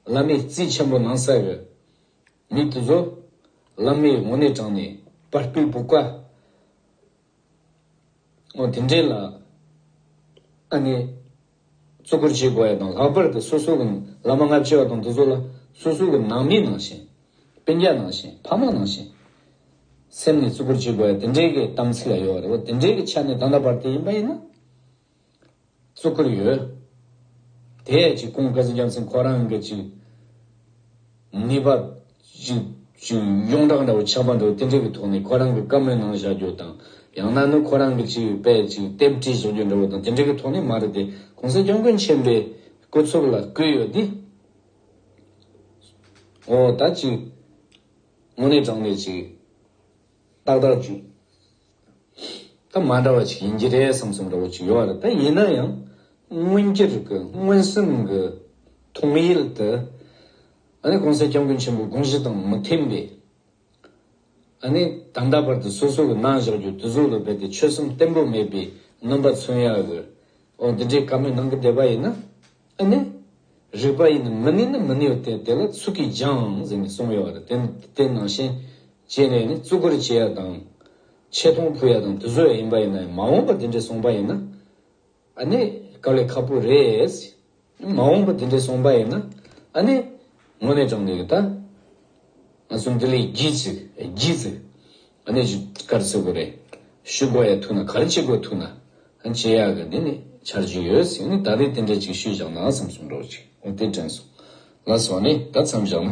བླ་མའི་རྩིས་ཆེན་པོ་གནང་ས་ཡོད། མི་དེ་ཚོ་བླ་མའི་དབང་གནས་དྲངས་ནས་པར་པའི་བུ་ག། ཨོ། དེ་འདྲའི་ལ། ཨ་ནི། བརྩི་བཀུར་བྱེད་དགོས་ཡ་དང་ལྷག་པར་དུ་སོ་སོ་གི་བླ་མ་སྔ་ཕྱི་བ་དང་དེ་ཚོ་ལ་སོ་སོ་གི་ནང་མི་ནང་བཞིན། དཔེ་རྒྱ་ནང་བཞིན་ཕ་མ་ནང་བཞིན། སེམས་ནས་བརྩི་བཀུར་བྱེད་དགོས་ཡ་དེ་འདྲའི་གི་གཏམ་ཚིག་ལ་ཡོད་པ་རེད་བ་དེ་འདྲའི་གི་ཆ་ནས་ད་ལྟ་བར་དེ་ཡིན་པ་ཡིན་ན། གཙུག་བཀུར་ཡོད། དེ་ཡས་ཀྱི་ཀུན་དགའ་གཟིགས་རྒྱ་མཚན་ཁོ་རང་གི་ཅིག། ངེས་པ། ཅིག། ཅིག་གཡུང་དྲག་འདྲ་བོ་ཆགས་པ་འདུག་དེ་འདྲའི་གི་ཐོག་ནས་ཁོ་རང་གི་བཀའ་མོལ་གནང་བཞག་རྒྱུ་དང། ཡང་ན་ནི་ཁོ་རང་གི་ཅིག་དཔེ་ཅིག་དེབ་བྲིས་བཟོ་རྒྱུ་འདྲ་བོ་དང་དེ་འདྲའི་གི་ཐོག་ནས་མ་རེད་དེ་གོང་ས་སྐྱོང་ཀུན་ཆེན་པའི་སྐུ་ཚོགས་ལ་བསྐུལ་ཡོད་དེ། འོ་ད་ཅིག། དངོས་གནས་དྲང་ནས་ཅིག། ཏག་ཏག་འཇུག་ད་མ་འདྲ་བ་ཅིག་ཡིན་གྱི་རེད་བསམ་བསམ་འདྲ་བོ་ཅིག་ཡོད་རེད་ད་ཡིན་ན་ཡང་མངོན་གྱུར་གྱི་མངོན་སུམ་གྱི་མཐོང་ཡུལ་དུ་ཨ་ནི་གོང་ས་སྐྱབས་མགོན་ཆེན་པོའི་དགོངས་གཞི་དང་མི་མཐུན་པས་ཨ་ནི་ད་ལྟ་བར་དུ་སོ་སོ་གྱི་རྣ་བཞག་རྒྱུ་དུས་གཟུགས་ལ་རྦད་དེ་ཆོད་སེམས་བརྟན་པོ་མེད་པའི་རྣམ་པ་མཚོན་ཡག་གི་འོ་འདི་འདྲའི་བཀའ་མོལ་གནང་གི་བསྡད་པ་ཡིན་ན། ཨེ་ནི། རིགས་པ་ཡིན་ནི་མི་ནུས་ནི་མི་ནུས་ཏེ་དེ་ལ་ཚུལ་གྱིས་སྦྱངས་ཟེར་ནས་གསུངས་ཡོད་པ་རེད་དེ་ནི་ནང་བཞིན་བྱས་ནས་ནི་བརྩི་བཀུར་བྱེད་ཡ་དང། ཆེ་མཐོང་ཕུལ་ཡ་དང་དུ་བཟོ་ཡ་ཡིན་པ་ཡིན་ན་ཡང་མ་འོངས་པ་དེ་འདྲས་སོང་པ་ཡིན་ན། ཨ་ནི། ག་ལེ་ཁ་པོ་རེད། མ་འོངས་པ་དེ་འདྲས་སོང་པ་ཡིན་ན། ཨ་ནི། ངོ་ནས་དྲང་འདུག་གི་ད། ང་ཚོ་འདི་ལས་བགྱིས་ཚིག་བགྱིས་ཚིག། ཨ་ནེ་ཇི་ལྟར་བརྩི་དགོས་རེད། ཞུ་དགོས་ཡ་ཐུག་ན་ག་རེ་བྱེད་དགོས་ཐུག་ན། ཨ་ཅེ་ཡག་གི་འདི་ནི་འཆར་རྒྱུ་ཡོད་བསམ་ནས་ད་རེས་དེ་འདྲ་ཅིག་ཞུས་བཞག་ན་བསམ་བསམ་འགྲོ་ཅིག་འོ་དེ་དྲན་སོང། ལ་སོང་ནས་ད་མཚམས་བཞག་ན།